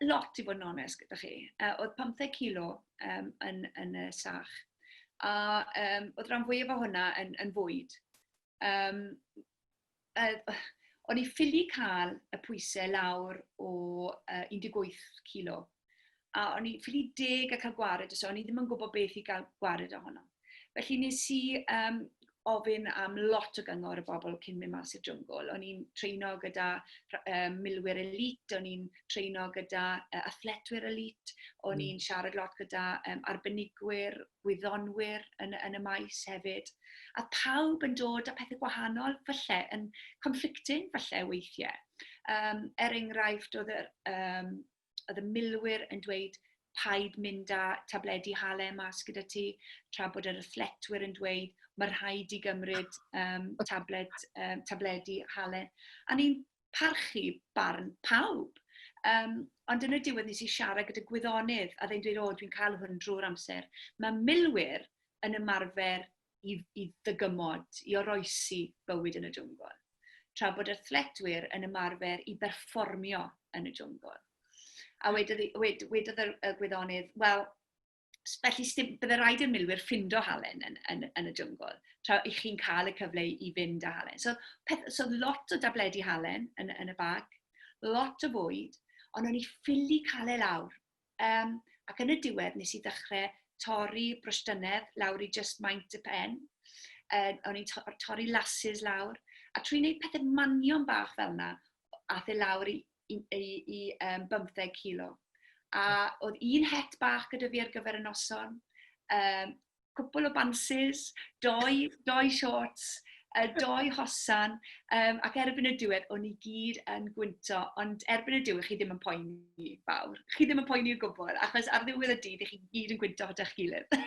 lot i fod yn onest gyda chi. Uh, oedd 15 kilo um, yn, yn y sach. A um, oedd rhan fwyaf o hwnna yn, yn fwyd. Um, Yy, o'n i ffili cael y pwysau lawr o uh, 18 kilo. A o'n i ffili deg a cael gwared, so o'n i ddim yn gwybod beth i gael gwared ohono. Felly nes i um, ofyn am lot o gyngor y bobl cyn mynd mas i'r jwngl. O'n i'n treino gyda um, milwyr elite, o'n i'n treino gyda uh, athletwyr elite, o'n mm. i'n siarad lot gyda um, arbenigwyr gwyddonwyr yn, yn y maes hefyd, a pawb yn dod â pethau gwahanol, falle yn conflicting, falle weithiau. Um, er enghraifft, oedd y, um, oedd y milwyr yn dweud paid mynd â tabledi hale mas gyda ti, tra bod yr athletwyr yn dweud mae rhaid i gymryd um, tablet, um, tabledi hale. A ni'n parchu barn pawb. Um, ond yn y diwedd nes i siarad gyda gwyddonydd a ddyn dweud, o, dwi'n cael hwn drwy'r amser. Mae milwyr yn ymarfer i, i ddygymod, i oroesi bywyd yn y jwngl. Tra bod athletwyr yn ymarfer i berfformio yn y jwngl. A wedodd, wed, wedodd y, y gwyddonydd, wel, Felly, byddai rhaid i'r milwyr ffindo halen yn, yn, yn y jyngl, tra i chi'n cael y cyfle i fynd â halen. So, peth, so lot o dabledi halen yn, yn y bag, lot o fwyd, ond o'n i ffili cael e lawr. Um, ac yn y diwedd nes i ddechrau torri brwstynedd lawr i just maint y pen. Uh, o'n i'n to torri lasses lawr. A trwy wneud pethau manion bach fel yna, ath e lawr i i, i, i um, 15 kilo. A oedd un het bach gyda fi ar gyfer y noson, um, cwpl o bansis, doi, doi shorts, uh, doi hosan, um, ac erbyn y diwedd, o'n i gyd yn gwynto, ond erbyn y diwedd, chi ddim yn poeni fawr. Chi ddim yn poeni o gwbl, achos ar ddiwedd y dydd, chi gyd yn gwynto hyda'ch gilydd.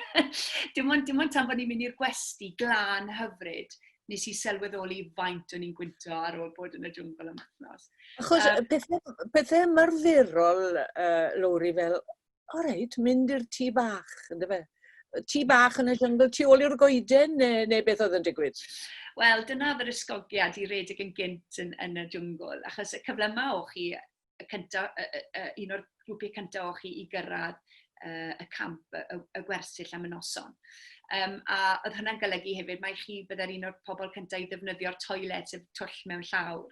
dim, ond, dim ond tan bod ni'n mynd i'r gwesti glan hyfryd, nes i sylweddoli faint o'n i'n gwynto ar ôl bod yn y jwngl am wythnos. Achos um, pethau, pethau ymarferol, uh, Lowri, fel, o reit, mynd i'r tŷ bach, ynddo fe? Tŷ bach yn y jyngl, tu ôl i'r goeden, neu, neu beth oedd yn digwydd? Wel, dyna oedd yr ysgogiad i redeg yn gynt yn, yn y jwngl, achos y cyfle yma o chi y cynta, y, y, y, un o'r grwpiau cyntaf o chi i gyrraedd uh, y camp, y, y, y gwersyll am y noson. Um, a oedd hynna'n golygu hefyd, mae chi byddai'r un o'r pobl cyntaf i ddefnyddio'r toilet, sef twll mewn llawr.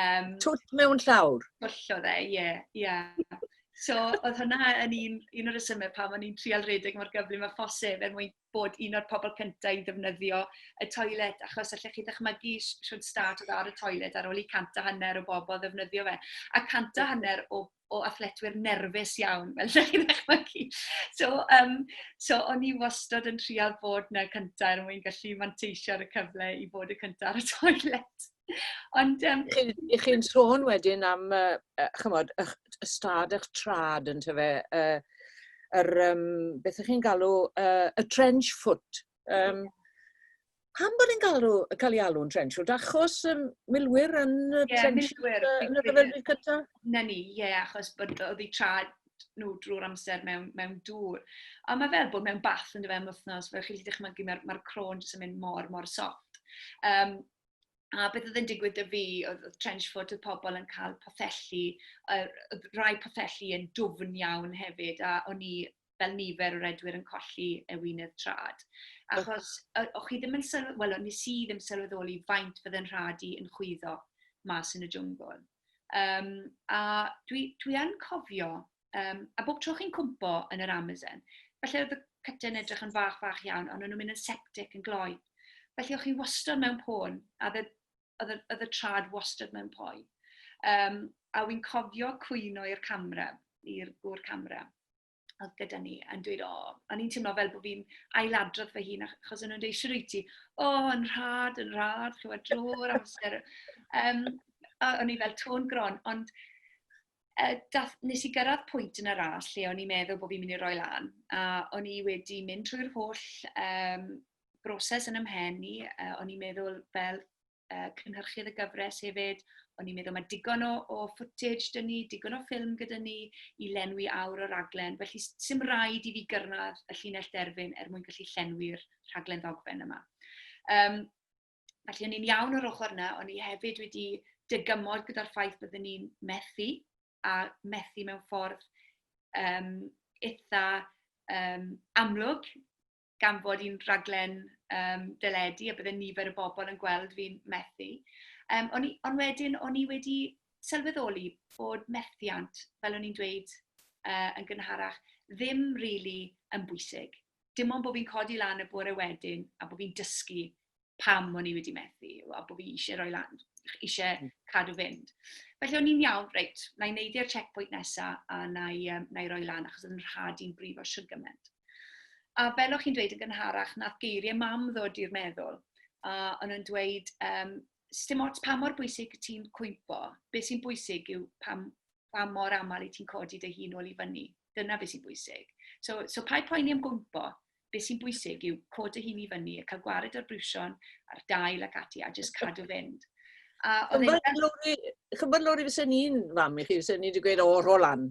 Um, twll mewn llawr? Twll o dde, ie, yeah, ie. Yeah. So, oedd hynna yn un, un o'r ysymau pan o'n i'n trial redeg mor gyflym a phosib er mwyn bod un o'r pobl cyntaf i ddefnyddio y toilet, achos allech chi ddychmygu shwt stad oedd ar y toilet ar ôl i cant a hanner o bobl ddefnyddio fe. A cant a hanner o, o athletwyr nerfus iawn, fel allech chi ddychmygu. So, um, so o'n i wastod yn trial bod na cyntaf er mwyn gallu manteisio ar y cyfle i fod y cyntaf ar y toilet. Ond yym... Y'ch chi'n sôn wedyn am yy ch'mod ych ystâd ych trad ynte fe yy yr yym beth y'ch chi'n galw yy y trench foot yym pam bod e'n galw ca'l ei alw'n trench foot achos yym milwyr yn y trench yn y rhyfel byd cynta? 'Na ni ie achos bod o'dd eu trad nhw drwy'r amser mewn mewn dŵr. A ma' fel bod mewn bath yndyfe am wthnos fel chi'n gallu dychmygu ma'r ma'r cro'n jyst yn mynd mor mor soft. Yym A beth oedd yn digwydd 'da fi oedd oedd trench foot y pobl yn cael pothelli, yy oedd rai pothelli yn dwfn iawn hefyd a o'n i fel nifer o redwyr yn colli e wyneb trad. Achos o, o chi ddim yn sylw... wel, o'n nes i ddim sylweddoli faint fydde'n rhad i yn chwyddo mas yn y jwngl. Um, a dwi, dwi yn cofio Um, a bob tro chi'n cwmpo yn yr Amazon, felly oedd y cytyn edrych yn fach fach iawn, ond o'n nhw'n mynd yn septic yn gloi. Felly o'ch chi wastod mewn pôn, a oedd y trad wastod mewn poi. Um, a wy'n cofio cwyn o'r camera, i'r gŵr camera oedd gyda ni yn dweud, o, oh, o'n i'n teimlo fel bod fi'n ailadrodd fy hun, achos o'n nhw'n dweud, siwr wyt ti, o, oh, yn rhad, yn rhad, chywed dro'r amser. Um, o'n i fel tôn gron, ond uh, dath, nes i gyrraedd pwynt yn y ras lle o'n i'n meddwl bod fi'n mynd i roi lan. A o'n i wedi mynd trwy'r holl um, broses yn ymhen i. Uh, o'n i'n meddwl fel uh, cynhyrchydd y gyfres hefyd, o'n i'n meddwl mae digon o, o footage dyn ni, digon o ffilm gyda ni i lenwi awr o raglen. Felly sy'n rhaid i fi gyrraedd y llinell derfyn er mwyn gallu llenwi'r rhaglen ddogfen yma. Um, Felly, o'n i'n iawn o'r ochr yna, o'n i hefyd wedi dygymod gyda'r ffaith byddwn ni'n methu, a methu mewn ffordd um, eitha um, amlwg, gan bod i'n rhaglen um, dyledu a byddai nifer y bobl yn gweld fi'n methu. Um, on, i, on wedyn, o'n i wedi sylweddoli bod methiant, fel o'n i'n dweud uh, yn gynharach, ddim rili really yn bwysig. dim ond bod fi'n codi lan y bore wedyn a bod fi'n dysgu pam o'n i wedi methu a bod fi eisiau rhoi lan, eisiau hmm. cadw fynd. Felly o'n i'n iawn, reit, na i neidio checkpoint nesaf a na i, um, na i roi lan achos oedd yn rhad i'n brif o siwr gymaint. A fel o'ch chi'n dweud yn gynharach, nath geiriau mam ddod i'r meddwl a o'n nhw'n dweud, um, sdim ots pa mor bwysig y ti'n cwympo, beth sy'n bwysig yw pam, pa mor aml i ti'n codi dy hun ôl i fyny. Dyna beth sy'n bwysig. So, so pa'i poeni am gwympo, beth sy'n bwysig yw cod dy hun i fyny, a cael gwared o'r brwsion a'r dail ac ati, a jyst cadw fynd. A Chymod lori, fes e'n un fam i chi, fes e'n un wedi gweud, o, rho lan.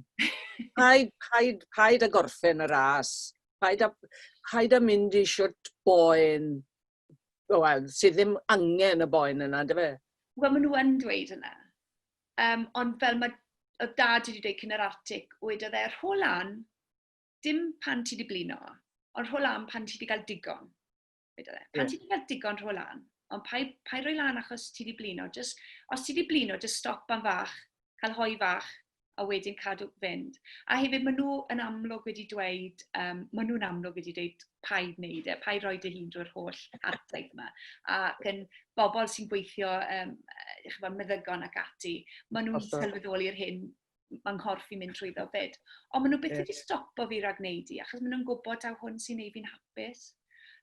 Paid, paid, paid a gorffen y ras. Paid a, paid a mynd i siwt boen wel, sydd ddim angen y boen yna, yndyfe? Wel, maen nhw yn dweud yna. Um, ond fel mae oedd dad wedi dweud cyn yr artic, oedd e, rho lan, dim pan ti wedi blino, ond rho lan pan ti wedi cael digon. E. Pan yeah. ti wedi cael digon, rho lan. Ond pa, pa roi lan achos ti wedi blino. Just, os ti wedi blino, just stop am fach, cael hoi fach, a wedyn cadw fynd. A hefyd, maen nhw yn amlwg wedi dweud, um, maen nhw'n amlwg wedi dweud paid wneud e, paid roi dy hun drwy'r holl hartaig yma. Ac yn bobl sy'n gweithio, um, chyfod, meddygon ac ati, maen nhw'n sylweddoli'r hyn mae nghorff i'n mynd trwyddo fyd. Ond maen nhw beth yeah. wedi stopo fi rhag wneud i, achos maen nhw'n gwybod taw hwn sy'n ei fi'n hapus.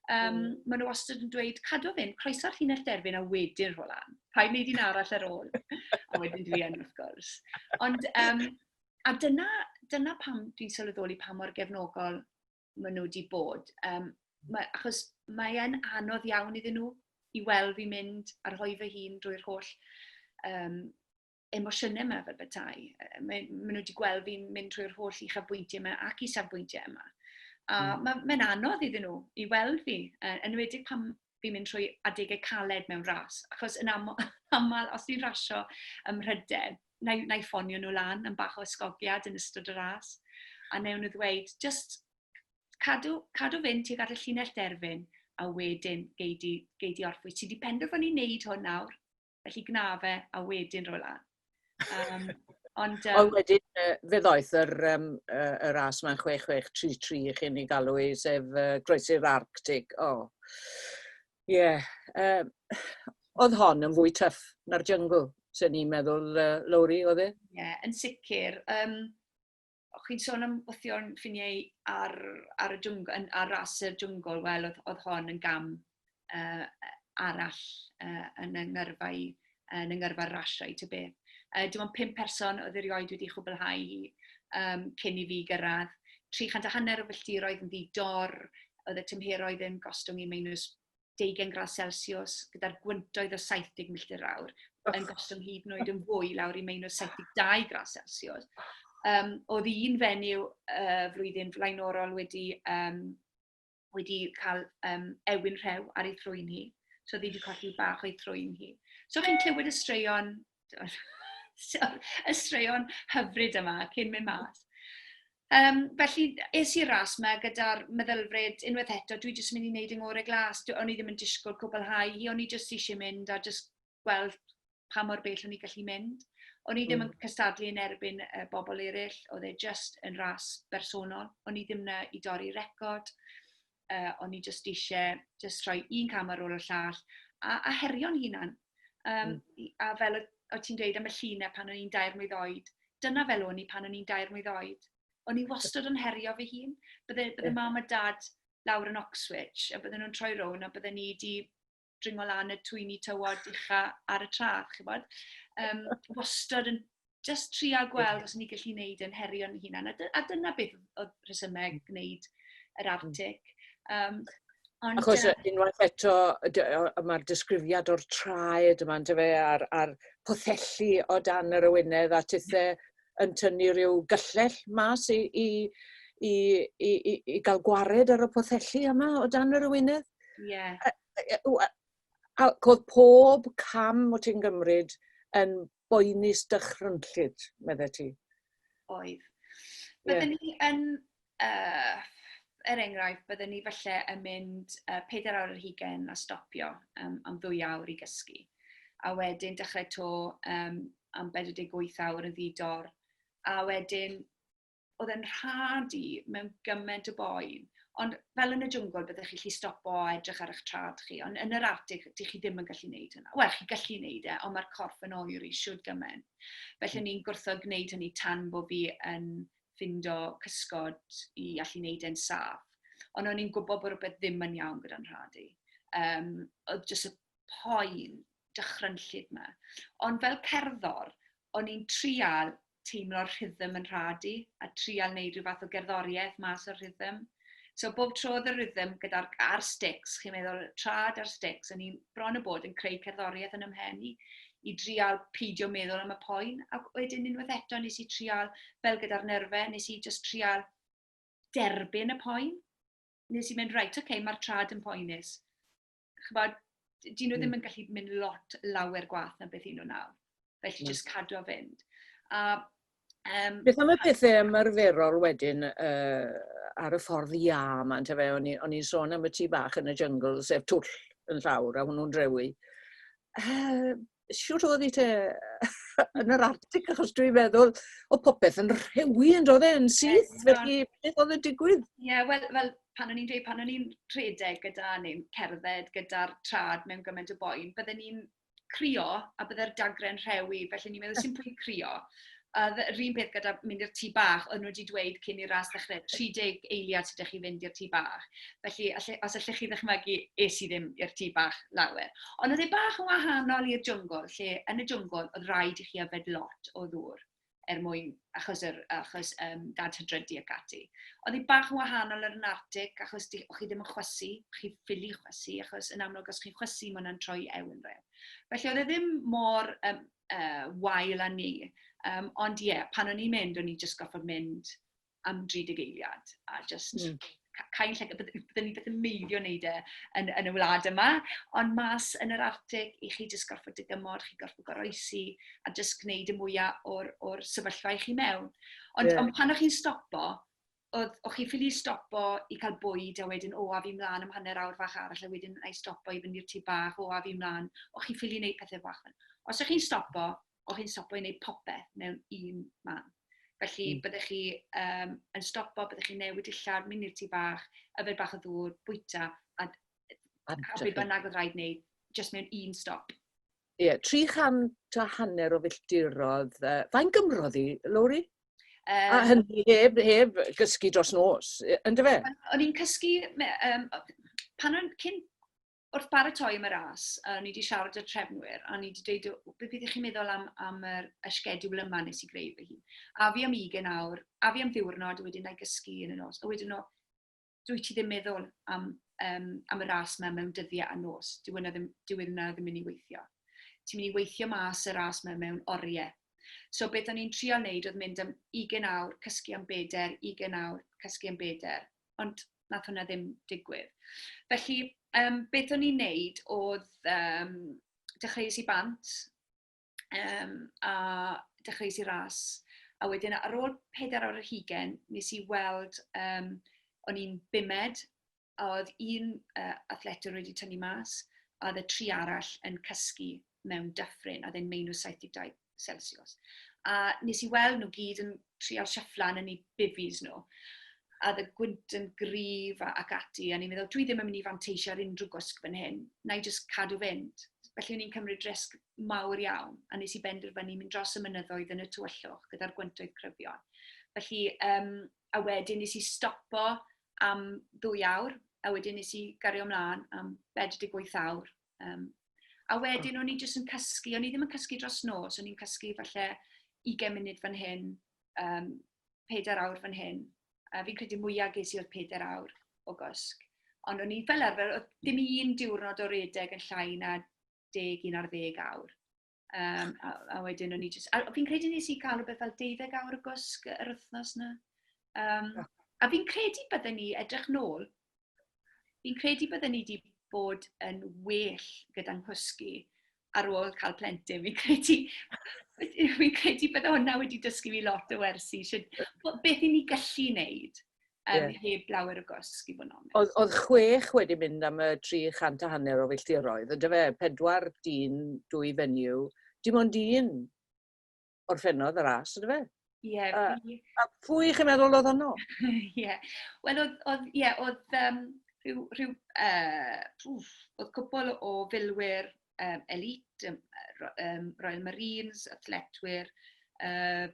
Um, mm. Maen nhw wastad yn dweud, cadw fynd, croeso'r llinell derfyn a wedyn rho lan. Rhaid wneud un arall ar ôl. a wedyn dwi yn, wrth gwrs. Ond, um, a dyna, dyna pam dwi'n sylweddoli pa mor gefnogol maen nhw wedi bod. Um, mae, achos mae'n anodd iawn iddyn nhw i weld fi mynd a rhoi fy hun drwy'r holl um, emosiynau yma fel bethau. Maen nhw wedi gweld fi'n mynd trwy'r holl uchafbwyntiau yma ac isafbwyntiau yma. A mm. mae'n ma anodd iddyn nhw i weld fi, yn enwedig pan fi'n mynd trwy adegau caled mewn ras. Achos yn aml, aml os ni'n rasio ym Mhrydain, na, na i ffonio nhw lan yn bach o ysgogiad yn ystod y ras. A newn nhw ddweud, just cadw, cadw fynd tuag at y llinell derfyn, a wedyn gei di, gei di orffwys. Ti wedi penderfynu wneud hwn nawr, felly gwna fe a wedyn roi lan. Um, ond, um... ond wedyn, fe ddoeth yr, um, yr as mae'n 6633 i chi'n ei galw i, sef uh, groesi'r Arctic. O, oh. ie. Yeah. Uh, oedd hon yn fwy tyff na'r jungle, sy'n ni'n meddwl, uh, Lowri, oedd e? Ie, yeah, yn sicr. Um, O'ch chi'n sôn am wythio'n ffiniau ar, ar, y jwng, ar ras y jwngl, wel, oedd, oedd hon yn gam uh, arall uh, yn y ngyrfau, yn y ngyrfa rasiau, ty beth. Uh, dim ond pum person oedd erioed wedi chwblhau hi um, cyn i fi gyrraedd. 300 a hanner o filltiroedd yn ddi-dor, oedd y tymheroedd yn gostwng i minus 20 gradd Celsius gyda'r gwyntoedd o 70 milltir yr awr yn gostwng hyd yn oed yn fwy lawr i meinws 72 gradd Celsius. Um, oedd un fenyw uh, flwyddyn flaenorol wedi, um, wedi cael um, ewyn rhew ar ei thrwy'n hi. So ddi wedi colli bach o'i thrwy'n hi. So chi'n clywed y straeon, y straeon hyfryd yma cyn mynd mas. Yym, felly, es i'r ras 'ma gyda'r meddylfryd, unwaith eto, dwi jyst yn mynd i wneud 'y ngorau glas. Dw- o'n i ddim yn disgwyl cwblhau hi, o'n i jyst isie mynd a jyst gweld pa mor bell o'n i'n gallu mynd. O'n i ddim yn cystadlu yn erbyn yy bobl eraill, oedd e jyst yn ras bersonol, o'n i ddim 'na i dorri record. uh, o'n i jyst eisiau jyst rhoi un cam ar ôl y llall, a, a herio'n hunan. Um, mm. A fel o ti'n dweud am y llunau pan o'n i'n dair mlynedd oed, dyna fel o'n i pan o'n i'n dair mlynedd oed. O'n i wastad yn herio fy hun. Bydde, bydde yeah. mam a dad lawr yn Oxwich, a bydden nhw'n troi rown, a bydden ni wedi dringo lan y twyni tywod ucha ar y tra, chi bod. Um, wastad yn just tria gweld os ni gallu gwneud yn herio'n hunan. A, a dyna beth oedd rhesymau mm. gwneud yr mm. artig. Um, Ond, Achos uh, unwaith eto, mae'r disgrifiad o'r traed yma, ynddo fe, a'r, ar pothelli o dan yr ywynedd a tithe yn tynnu rhyw gyllell mas i, i, i, i, i, i gael gwared ar y pothelli yma o dan yr ywynedd. Ie. A oedd pob cam o ti'n gymryd yn boenus dychrynllyd, medde ti? Oedd. Bydden yeah. ni yn, uh, er enghraifft, bydden ni falle yn mynd uh, 4 awr yr hugen a stopio um, am ddwy awr i gysgu. A wedyn dechrau to um, am 48 awr yn ddidor. A wedyn oedd e'n rhad i mewn gymaint o boen. Ond fel yn y jwngl, byddwch chi'n gallu stopo a edrych ar eich trad chi, ond yn yr atig, dych chi ddim yn gallu gwneud hynna. Wel, chi'n gallu gwneud e, ond mae'r corff yn oer i siwr gymaint. Felly, hmm. ni'n gwrthod gwneud hynny tan bod fi yn ffindo cysgod i allu gwneud e'n saff. Ond o'n i'n gwybod bod rhywbeth ddim yn iawn gyda'n rhad i. Um, oedd jyst y poen dychrynllyd yma. Ond fel cerddor, o'n i'n trial teimlo'r rhythm yn rhad i, a trial wneud rhyw fath o gerddoriaeth mas o'r rhythm. So bob tro oedd y rhythm gyda'r... a'r stics, chi'n meddwl, y trad a'r stics, o'n i bron a bod yn creu cerddoriaeth yn 'y mhen i, i drial peidio meddwl am y poen, ac wedyn unwaith eto nes i trial, fel gyda'r nyrfe, nes i jyst trial derbyn y poen. Nes i mynd, reit, ocê, mae'r trad yn poenus. chybod, dyn nhw ddim hmm. yn gallu mynd lot lawer gwaith na beth un nhw nawr. Felly hmm. jyst cadw o fynd. A, um, beth am y pethau ymarferol wedyn uh, ar y ffordd ia yma, ynte fe, o'n i'n sôn am y tu bach yn y jungle, sef twll yn llawr, a hwnnw'n drewi. Uh, siwr oedd i te yn yr artig, achos dwi'n meddwl, o popeth yn rhewi yn dod e'n syth, yeah, felly beth oedd y digwydd? Ie, yeah, wel, well, pan o'n i'n dweud, pan o'n i'n rhedeg gyda neu'n cerdded gyda'r trad mewn gymaint o boen, bydden ni'n crio a bydde'r dagren rhewi, felly ni'n meddwl sy'n pwynt crio. A oedd yr un peth gyda mynd i'r tŷ bach, oedden nhw wedi dweud cyn i'r ras ddechrau, 30 eiliad sydd 'da chi fynd i'r tŷ bach. Felly, alle- os allech chi ddychmygu, es i ddim i'r tŷ bach lawer. Ond oedd e bach yn wahanol i'r jwngl, lle yn y jwngl oedd raid i chi yfed lot o ddŵr er mwyn... achos yr... achos yym dad hydrydu ac ati. Oedd hi bach yn wahanol ar yn Artic, achos di- o'ch chi ddim yn chwysu, o'ch chi'n ffili chwysu, achos yn amlwg os chi'n chwysu ma' hwnna'n troi ewy'n rhydd. Felly oedd e ddim mor yym uh, wael â ni. Um, ond ie, yeah, pan o'n i'n mynd, o'n i jyst goffa mynd am 30 eiliad a just mm. cael lle, byddwn ni beth yn meiddio wneud e yn, yn y wlad yma, ond mas yn yr Arctic, i chi jyst gorfod dygymod, chi gorfod goroesi a jyst gwneud y mwyaf o'r, or sefyllfa i chi mewn. Ond, yeah. ond pan o'ch chi'n stopo, oedd, o'ch chi ffili stopo i cael bwyd a wedyn, o, a fi mlaen am hanner awr fach arall a wedyn na i stopo i fynd i'r tŷ bach, o, a fi mlaen. O'ch chi ffili wneud pethau bach fel Os o'ch chi'n stopo, o'ch chi'n stopo i wneud popeth mewn un man. Felly, mm. byddech chi um, yn stopo, byddech chi'n newid dillad, mynd i'r tŷ bach, yfed bach o ddŵr, bwyta, a, a beth bynnag oedd rhaid wneud, jyst mewn un stop. Ie, 300 a hanner o filltirodd. Uh, fain Gymro ddi, Lowri? Um, a hynny heb, heb gysgu dros nos, ynddo fe? O'n i'n cysgu, um, pan o'n cyn wrth baratoi am y ras, a ni wedi siarad y trefnwyr, a ni wedi dweud, beth ydych chi'n meddwl am, am yr ysgedwl yma nes i greu fy hun? A fi am ugen awr, a fi am ddiwrnod, a wedyn na i gysgu yn y nos. A wedyn o, dwi ti ddim meddwl am, um, am y ras yma mewn dyddiau a nos. Dyw yna e ddim, dyw e ddim yn mynd i weithio. Ti'n mynd i weithio mas y ras yma mewn oriau. So beth o'n i'n trio wneud oedd mynd am 20 awr, cysgu am beder, 20 awr, cysgu am beder. Ond nath hwnna ddim digwydd. Felly, um, beth o'n i'n neud oedd um, dechreuais i bant, um, a dechreuais i ras. A wedyn ar ôl pedair awr yr hugen, nes i weld, um, o'n i'n bumed, a oedd un uh, athletwr wedi tynnu mas, a oedd y tri arall yn cysgu mewn dyffryn, a ddyn meinu 72 Celsius. A nes i weld nhw gyd yn trial siafflan yn ei bifis nhw a dda gwynt yn gryf ac ati, a ni'n meddwl, dwi ddim yn mynd i fanteisio ar unrhyw gwsg fan hyn, na i jyst cadw fynd. Felly o'n i'n cymryd risg mawr iawn, a nes i benderfynu mynd dros y mynyddoedd yn y tywyllwch gyda'r gwyntoedd cryfion. Felly, um, a wedyn nes i stopo am ddwy awr, a wedyn nes i gario ymlaen am 48 awr. Um, a wedyn o'n i jyst yn cysgu, o'n i ddim yn cysgu dros nos, o'n i'n cysgu falle 20 munud fan hyn, um, 4 awr fan hyn. A fi'n credu mwyaf ges i oedd 4 awr o gysg. Ond o'n i fel arfer, oedd dim un diwrnod o redeg yn llai na 11 ar ddeg awr. Um, a, a wedyn o'n i jyst... A fi'n credu nes i cael rhywbeth fel 12 awr o gwsg yr wythnos na. Um, a fi'n credu bydden ni, edrych nôl, fi'n credu bydden ni wedi bod yn well gyda'n nghwsgu ar ôl cael plentyn. Fi'n credu, fi'n credu bydde hwnna wedi dysgu fi lot o wersi, beth i ni gallu wneud. um, yeah. heb lawer o gosg i fod yn onest. Oedd, oedd chwech wedi mynd am y 300 a hanner o filltiroedd, ydy fe, pedwar dyn, dwy fenyw, dim ond un orffennodd y ras, ydy fe? Ie. Yeah, uh, a pwy chi'n meddwl oedd honno? Ie. yeah. Wel, oedd, oedd, ie, yeah, oedd um, rhyw, rhyw uh, pwf, oedd cwbl o filwyr um, elite, um, um, Royal Marines, athletwyr, uh,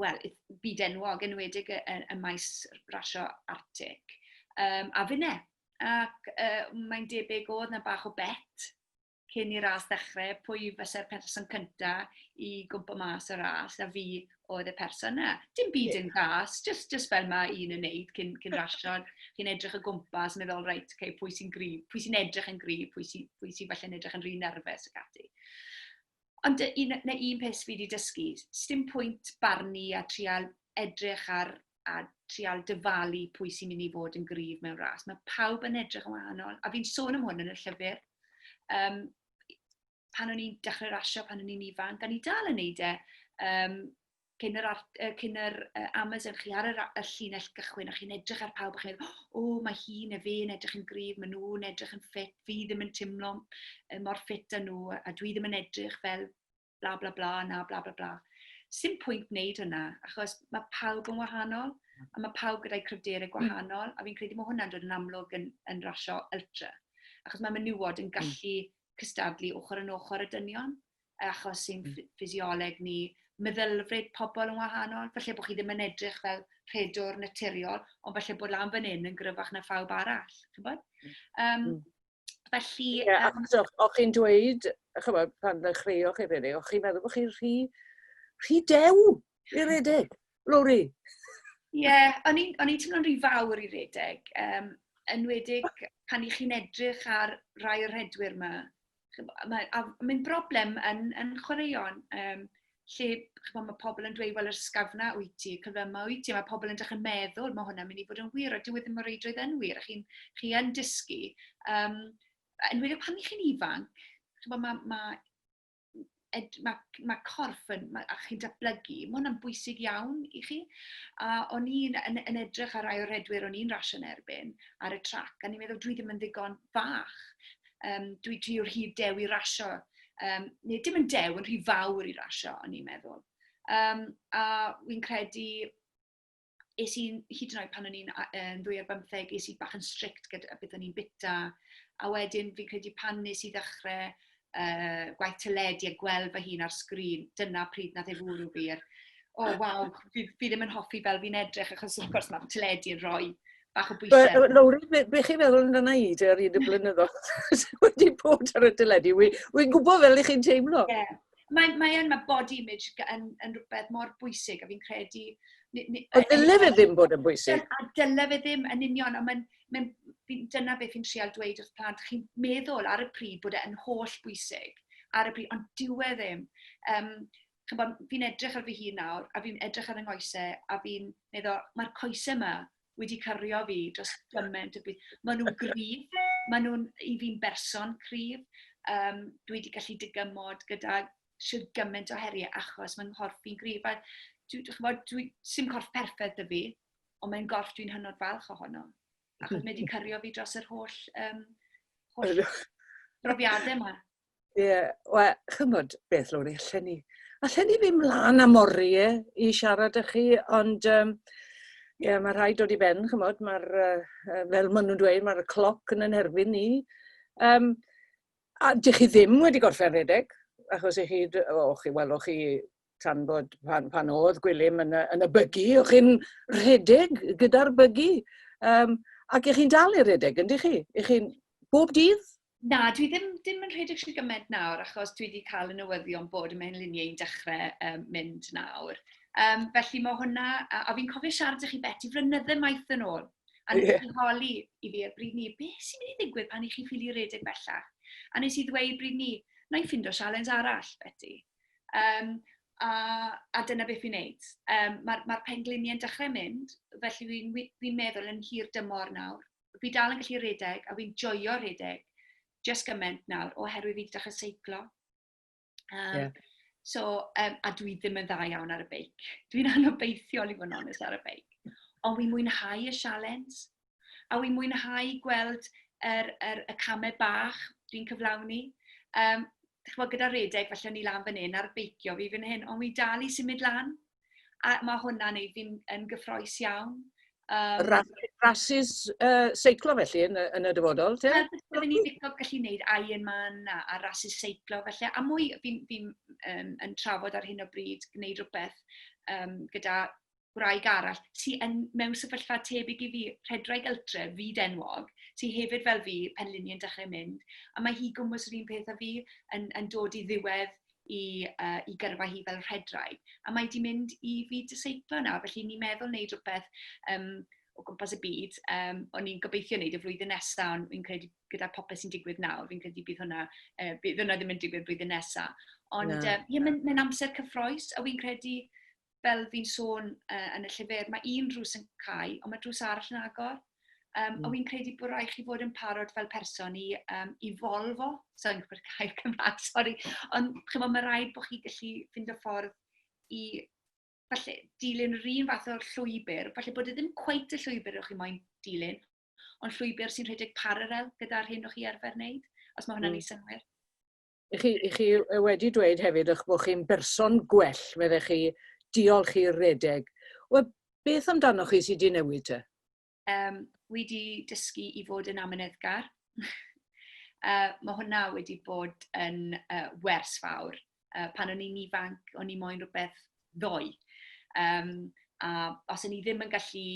wel, byd-enwog, yn enwedig y, y, y maes rasio Arctic, um, a finne. Ac uh, mae'n debyg oedd na bach o bet cyn i'r ras ddechrau, pwy fysa'r person cynta i gwmpa mas y ras, a fi oedd y person yna. Dim byd yn gas, just, just fel mae un yn neud cyn, cyn rasio, chi'n edrych y gwmpas, meddwl, reit, okay, pwy sy'n gryf, pwy sy'n edrych yn gryf, pwy sy'n sy falle yn edrych yn rhy nerfus ac ati. Ond y un... na un peth fi 'di dysgu, sdim pwynt barnu a trial edrych ar a trial dyfalu pwy sy'n mynd i fod yn gryf mewn ras. Mae pawb yn edrych yn wahanol, a fi'n sôn am hwn yn y llyfr. Um, pan o'n i'n dechrau rasio, pan o'n i'n ifanc, a ni dal yn neud e, um, cyn yr, art, uh, cyn yr uh, Amazon, chi ar yr, y llinell gychwyn a chi'n edrych ar pawb a chi'n meddwl, o, oh, mae hi neu fe yn edrych yn gryf, maen nhw'n edrych yn ffit, fi ddim yn teimlo mor ffit â nhw, a dwi ddim yn edrych fel bla bla bla na bla bla bla. Sim pwynt wneud hynna, achos mae pawb yn wahanol, a mae pawb gyda'i cryfderau mm. gwahanol, a fi'n credu mae hwnna'n dod yn amlwg yn, yn rasio ultra. Achos mae menywod yn mm. gallu cystadlu ochr yn ochr y dynion, achos sy'n hmm. ffisioleg ni, meddylfryd pobl yn wahanol, felly bod chi ddim yn edrych fel rhedwr naturiol, ond felly bod lan fan hyn yn gryfach na phawb arall. Um, felly... Yeah, um, achos o'ch chi'n dweud, chymod, pan ddechreuoch chi rili, o'ch chi'n meddwl bod chi'n rhy, rhy dew i redeg. Rory! Ie, yeah, o'n i'n teimlo'n rhy fawr i redeg, um, enwedig pan i chi'n edrych ar rai o'r rhedwyr yma. Mae'n broblem yn, yn chwaraeon, um, lle chymod, mae pobl yn dweud, wel, yr sgafna wyt ti, cyflyma wyt ti, mae pobl yn dechrau meddwl, mae hwnna'n mynd i fod yn wir, a dyw e ddim mor reidrwydd yn wir, a chi'n chi yn dysgu. Um, enwedig pan i chi'n ifanc, chymod, mae, mae mae, mae corff yn, mae, a chi'n datblygu, mae hwnna'n bwysig iawn i chi. A o'n i'n yn, yn edrych ar rai o'r redwyr o'n i'n rasio yn erbyn ar y trac, a ni'n meddwl dwi ddim yn ddigon fach. Um, dwi, dwi o'r hyd dew i rasio, um, neu dim yn dew yn rhy fawr i rasio, o'n i'n meddwl. Um, a wy'n credu es i, hyd yn oed pan o'n i'n um, ddwy ar bymtheg, es i bach yn strict gyda beth o'n i'n bita. A wedyn fi'n credu pan nes i ddechrau uh, gwaith teledu a gweld fy hun ar sgrin, dyna pryd na ddefwrw fi. Er, o, oh, waw, fi, fi ddim yn hoffi fel fi'n edrych, achos wrth gwrs mae teledu yn rhoi bach o bwysau. Lowri, be, be chi'n meddwl yn yna i ar un y blynyddoedd wedi bod ar y teledu? Wy'n gwybod fel i chi'n teimlo. Ie, yeah. Mae, mae yn, mae body image yn, yn rhywbeth mor bwysig, a fi'n credu... A dyle fe ddim bod yn bwysig. A dyle fe ddim yn union, ond mae'n, mae'n, dyna beth fi'n trial dweud wrth plant. Chi'n meddwl ar y pryd bod e'n holl bwysig, ar y pryd, ond dyw e ddim. Um, fi'n edrych ar fy hun nawr, a fi'n edrych ar yng ngoesau, a fi'n meddwl, mae'r coesau yma wedi cyrio fi dros gymaint o beth. Maen nhw'n gryf, maen nhw'n i fi'n berson cryf. Um, dwi wedi gallu dygymod gyda sydd gymaint o heriau achos mae'n nghorff fi'n gryf. A dwi, dwi, dwi, dwi, sy'n corff perffaith y fi, ond mae'n gorff dwi'n hynod falch ohono. Achos mae wedi cyrio fi dros yr holl, um, holl brofiadau yma. Ie, wel, chymod beth, Lowri, allen ni... allen ni fynd mlaen am oriau i siarad â chi, ond um, ie, mae rhaid dod i ben, chymod, mae'r, uh, fel maen nhw'n dweud, mae'r cloc yn yn erbyn ni. Um, a dych chi ddim wedi gorffen redeg, achos i chi, o, chi, wel, o chi tan bod pan, pan oedd Gwilym yn y, yn y bygu, o'ch chi'n rhedeg gyda'r bygu, um, ac ych chi'n dal i rhedeg, yndych chi? Ych chi'n bob dydd? Na, dwi ddim, ddim yn rhedeg sy'n gymaint nawr, achos dwi wedi cael y newyddion bod y mewnluniau i'n dechrau um, mynd nawr. Um, felly mae hwnna, a, a fi'n cofio siarad â chi beti flynyddau maith yn ôl, a nes yeah. i holi i fi a bryd ni, beth sy'n mynd i ddigwydd pan i chi ffili redeg bellach? A nes i ddweud bryd ni, na i ffindo sialens arall, Betty. Um, a, a dyna beth fi'n neud. Um, Mae'r ma, ma pengliniau'n dechrau mynd, felly fi'n fi meddwl yn hir dymor nawr. Fi dal yn gallu redeg a fi'n joio redeg just gymaint nawr oherwydd fi wedi dechrau seiclo. Um, yeah. So, um, a dwi ddim yn dda iawn ar y beic. Dwi'n anobeithiol i fod yn onest ar y beic. Ond fi'n mwynhau y sialens. a wi'n mwynhau gweld yr, yr, y camau bach dwi'n cyflawni. Um, chymod, gyda redeg, felly o'n i lan fan hyn ar beicio fi fan hyn, ond wi dal i symud lan. A mae hwnna'n neud fi'n yn gyffroes iawn. Um, Rhasys uh, seiclo felly yn, yn y dyfodol, te? Byddwn ni'n ddigon gallu gwneud Ironman a, a rhasys seiclo felly, a mwy fi'n fi, um, yn trafod ar hyn o bryd gwneud rhywbeth um, gyda gwraig arall sy yn mewn sefyllfa tebyg i fi, rhedraig ultra, fyd enwog, sy hefyd fel fi, penliniau'n dechrau mynd, a mae hi gwmwys yr un peth â fi, yn, yn dod i ddiwedd i, uh, i gyrfa hi fel rhedraig, a mae di mynd i fi diseiplo nawr, felly ni'n meddwl wneud rhywbeth um, o gwmpas y byd. Um, o'n i'n gobeithio wneud y flwyddyn nesaf, ond fi'n credu gyda popeth sy'n digwydd nawr, fi'n credu bydd hwnna, uh, bydd hwnna ddim yn digwydd blwyddyn nesaf. Ond no. uh, ie, mae'n amser cyffroes, a fi'n credu fel fi'n sôn uh, yn y llyfr, mae un drws yn cael, ond mae drws arall yn agor. Um, mm. A fi'n credu bod rhaid chi fod yn parod fel person i, um, i folfo, so yn gwybod cael Cymraeg, sori, ond chymod, mae rhaid bod chi gallu fynd o ffordd i falle dilyn yr un fath o llwybr, falle bod e ddim cweit y llwybr o'ch chi moyn dilyn, ond llwybr sy'n rhedeg paralel gyda'r hyn o'ch chi arfer wneud, os mae hwnna'n mm. ei synwyr. I chi, i chi wedi dweud hefyd eich bod chi'n berson gwell, fydde chi, diolch i'r redeg. Wel, beth amdano chi sydd wedi newid te? Um, wedi dysgu i fod yn amyneddgar. uh, mae hwnna wedi bod yn uh, wers fawr. Uh, pan o'n i'n ifanc, o'n i moyn rhywbeth ddoe. Um, a os o'n i ddim yn gallu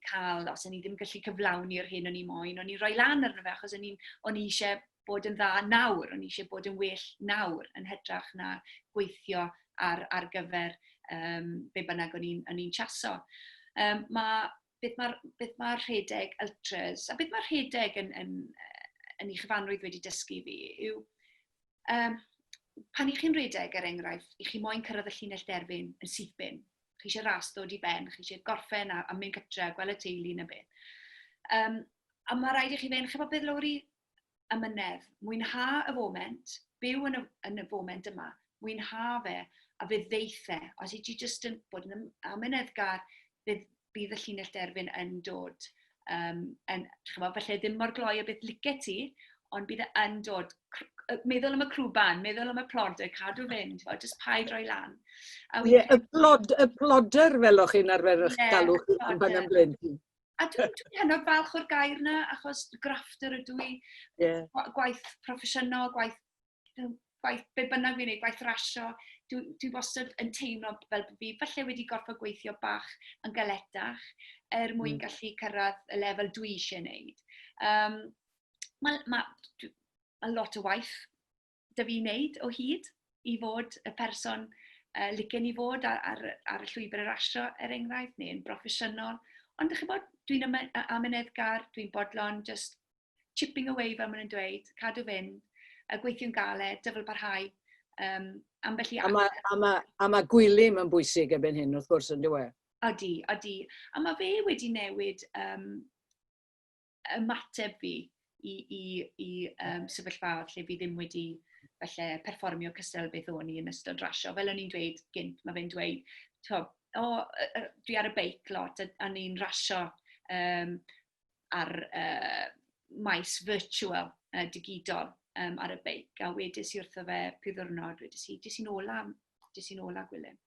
cael, os o'n i ddim yn gallu cyflawni'r hyn o'n i moyn, o'n i'n rhoi lan arno fe achos o'n i eisiau bod yn dda nawr, o'n i eisiau bod yn well nawr yn hytrach na gweithio ar, ar gyfer um, be bynnag o'n i'n ni chaso. Um, mae, beth mae'r ma rhedeg ultras, a beth mae'r rhedeg yn, yn, yn ei chyfanrwydd wedi dysgu fi, yw um, pan i chi'n rhedeg, er enghraifft, i chi moyn cyrraedd y llinell derfyn yn syth bin. Chi eisiau ras dod i ben, chi eisiau gorffen a, a mynd gytre, gweld y teulu yn y beth. Um, a mae rhaid i chi fe'n, chi'n bod beth Lowri, Amynedd. Mwynha y foment. Byw yn y, yn y foment yma. Mwynha fe, a fe ddeith e. Os i ti jyst yn bod yn amyneddgar, bydd, bydd y llinell derfyn yn dod. Um, yn, chyfo, felly ddim mor gloi o beth lice ti, ond bydd e yn dod. Meddwl am y crwban, meddwl am y plodau, cadw fynd, fel jyst paid roi lan. Ie, yeah, y, plod, y ploder fel o'ch chi'n arfer eich yeah, galw chi yn fan am blyn. A dwi'n dwi hynod falch o'r gair yna, achos grafftwr ydw i. Yeah. Gwaith proffesiynol, gwaith, gwaith be bynnag fi'n ei, gwaith rasio. Dwi, dwi wastad yn teimlo fel bod fi falle wedi gorfod gweithio bach yn galetach er mwyn mm. gallu cyrraedd y lefel dwi eisiau gwneud. Um, Mae ma, ma lot o waith da fi wneud o hyd i fod y person uh, licen i fod ar, ar, ar y llwybr yr asio, er enghraifft, neu yn broffesiynol. Ond ydych chi'n bod, dwi'n amyneddgar, dwi'n bodlon, just chipping away fel maen nhw'n dweud, cadw fynd, y gweithio'n galed, dyfel parhau, um, ambell i... A mae, a, ma, a ma gwylim yn bwysig ebyn hyn, wrth gwrs, yn dweud. Odi, odi. A mae fe wedi newid um, ymateb fi i, i, i um, sefyllfaoedd lle fi ddim wedi falle perfformio cystal beth o'n i yn ystod rasio. Fel o'n i'n dweud gynt, mae fe'n dweud, o, oh, dwi ar y beic lot a, a ni'n rasio um, ar uh, maes virtual uh, digidol um, ar y beic. A wedys i wrtho fe pwy ddwrnod, wedys i, dis i'n ola, dis i'n ola Gwilym.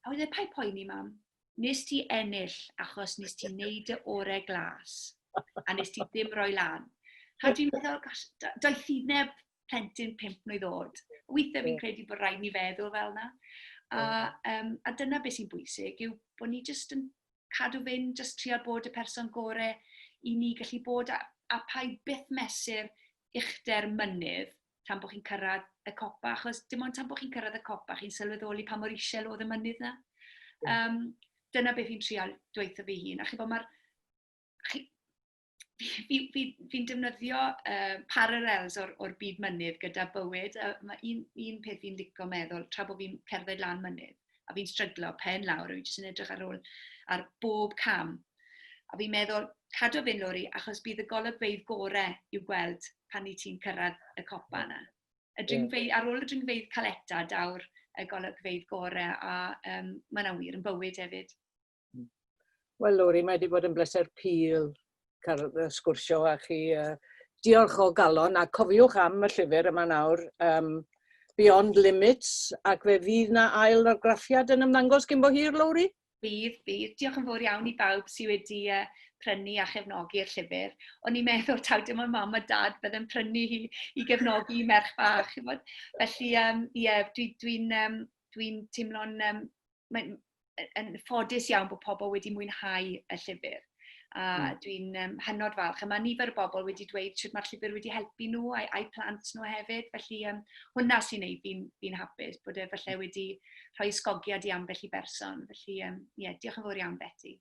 A wedyn, pa i poeni mam? nes ti ennill achos nes ti wneud y orau glas a nes ti ddim roi lan. A dwi'n meddwl, gosh, doeth i neb plentyn pimp mlynedd oed. Weithiau fi'n credu bod rhaid ni feddwl fel yna. A, um, a dyna beth sy'n bwysig, yw bod ni jyst yn cadw fynd, jyst trial bod y person gore i ni gallu bod, a, a pa i byth mesur uchder mynydd, tan bod chi'n cyrraedd y copa, achos dim ond tan bod chi'n cyrraedd y copa, chi'n sylweddoli pa mor isel oedd y mynydd na. Um, dyna beth fi'n trial dweithio fi hun. A chi bod, mae'r... Chi, fi'n fi, fi, fi defnyddio uh, parallels o'r, or byd mynydd gyda bywyd. Uh, mae un, un peth fi'n licio meddwl, tra bod fi'n cerdded lan mynydd, A fi'n stryglo pen lawr, a fi jyst yn edrych ar ôl ar bob cam. A fi'n meddwl, cadw fy'n lori, achos bydd y golygfeydd gorau i'w gweld pan i ti'n cyrraedd y copa yna. Y dringfeydd, ar ôl y dringfeydd caleta, daw'r y golygfeydd gorau, a um, mae yna wir yn bywyd hefyd. Wel Lori, mae wedi bod yn bleser pil cael y sgwrsio â chi. Diolch o galon a cofiwch am y llyfr yma nawr, um, Beyond Limits, ac fe fydd na ail argraffiad yn ymddangos gyn bo hir, Lowri? Bydd, bydd. Diolch yn fawr iawn i bawb sydd wedi uh, prynu a chefnogi'r llyfr. O'n i'n meddwl taw dim ond mam a dad bydd yn prynu hi i gefnogi merch fach. Felly, um, yeah, dwi'n dwi, dwi um, dwi'n teimlo'n... Um, mae'n yn ffodus iawn bod pobl wedi mwynhau y llyfr. A mm. dwi'n um, hynod falch. A mae nifer y bobl wedi dweud sut mae'r llyfr wedi helpu nhw a'i, ai plant nhw hefyd. Felly um, hwnna sy'n gwneud fi'n fi, hapus bod e falle wedi rhoi sgogiad i ambell i berson. Felly, um, yeah, diolch yn fawr iawn, Betty.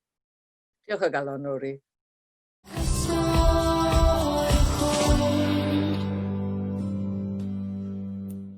Diolch o galon, Rory.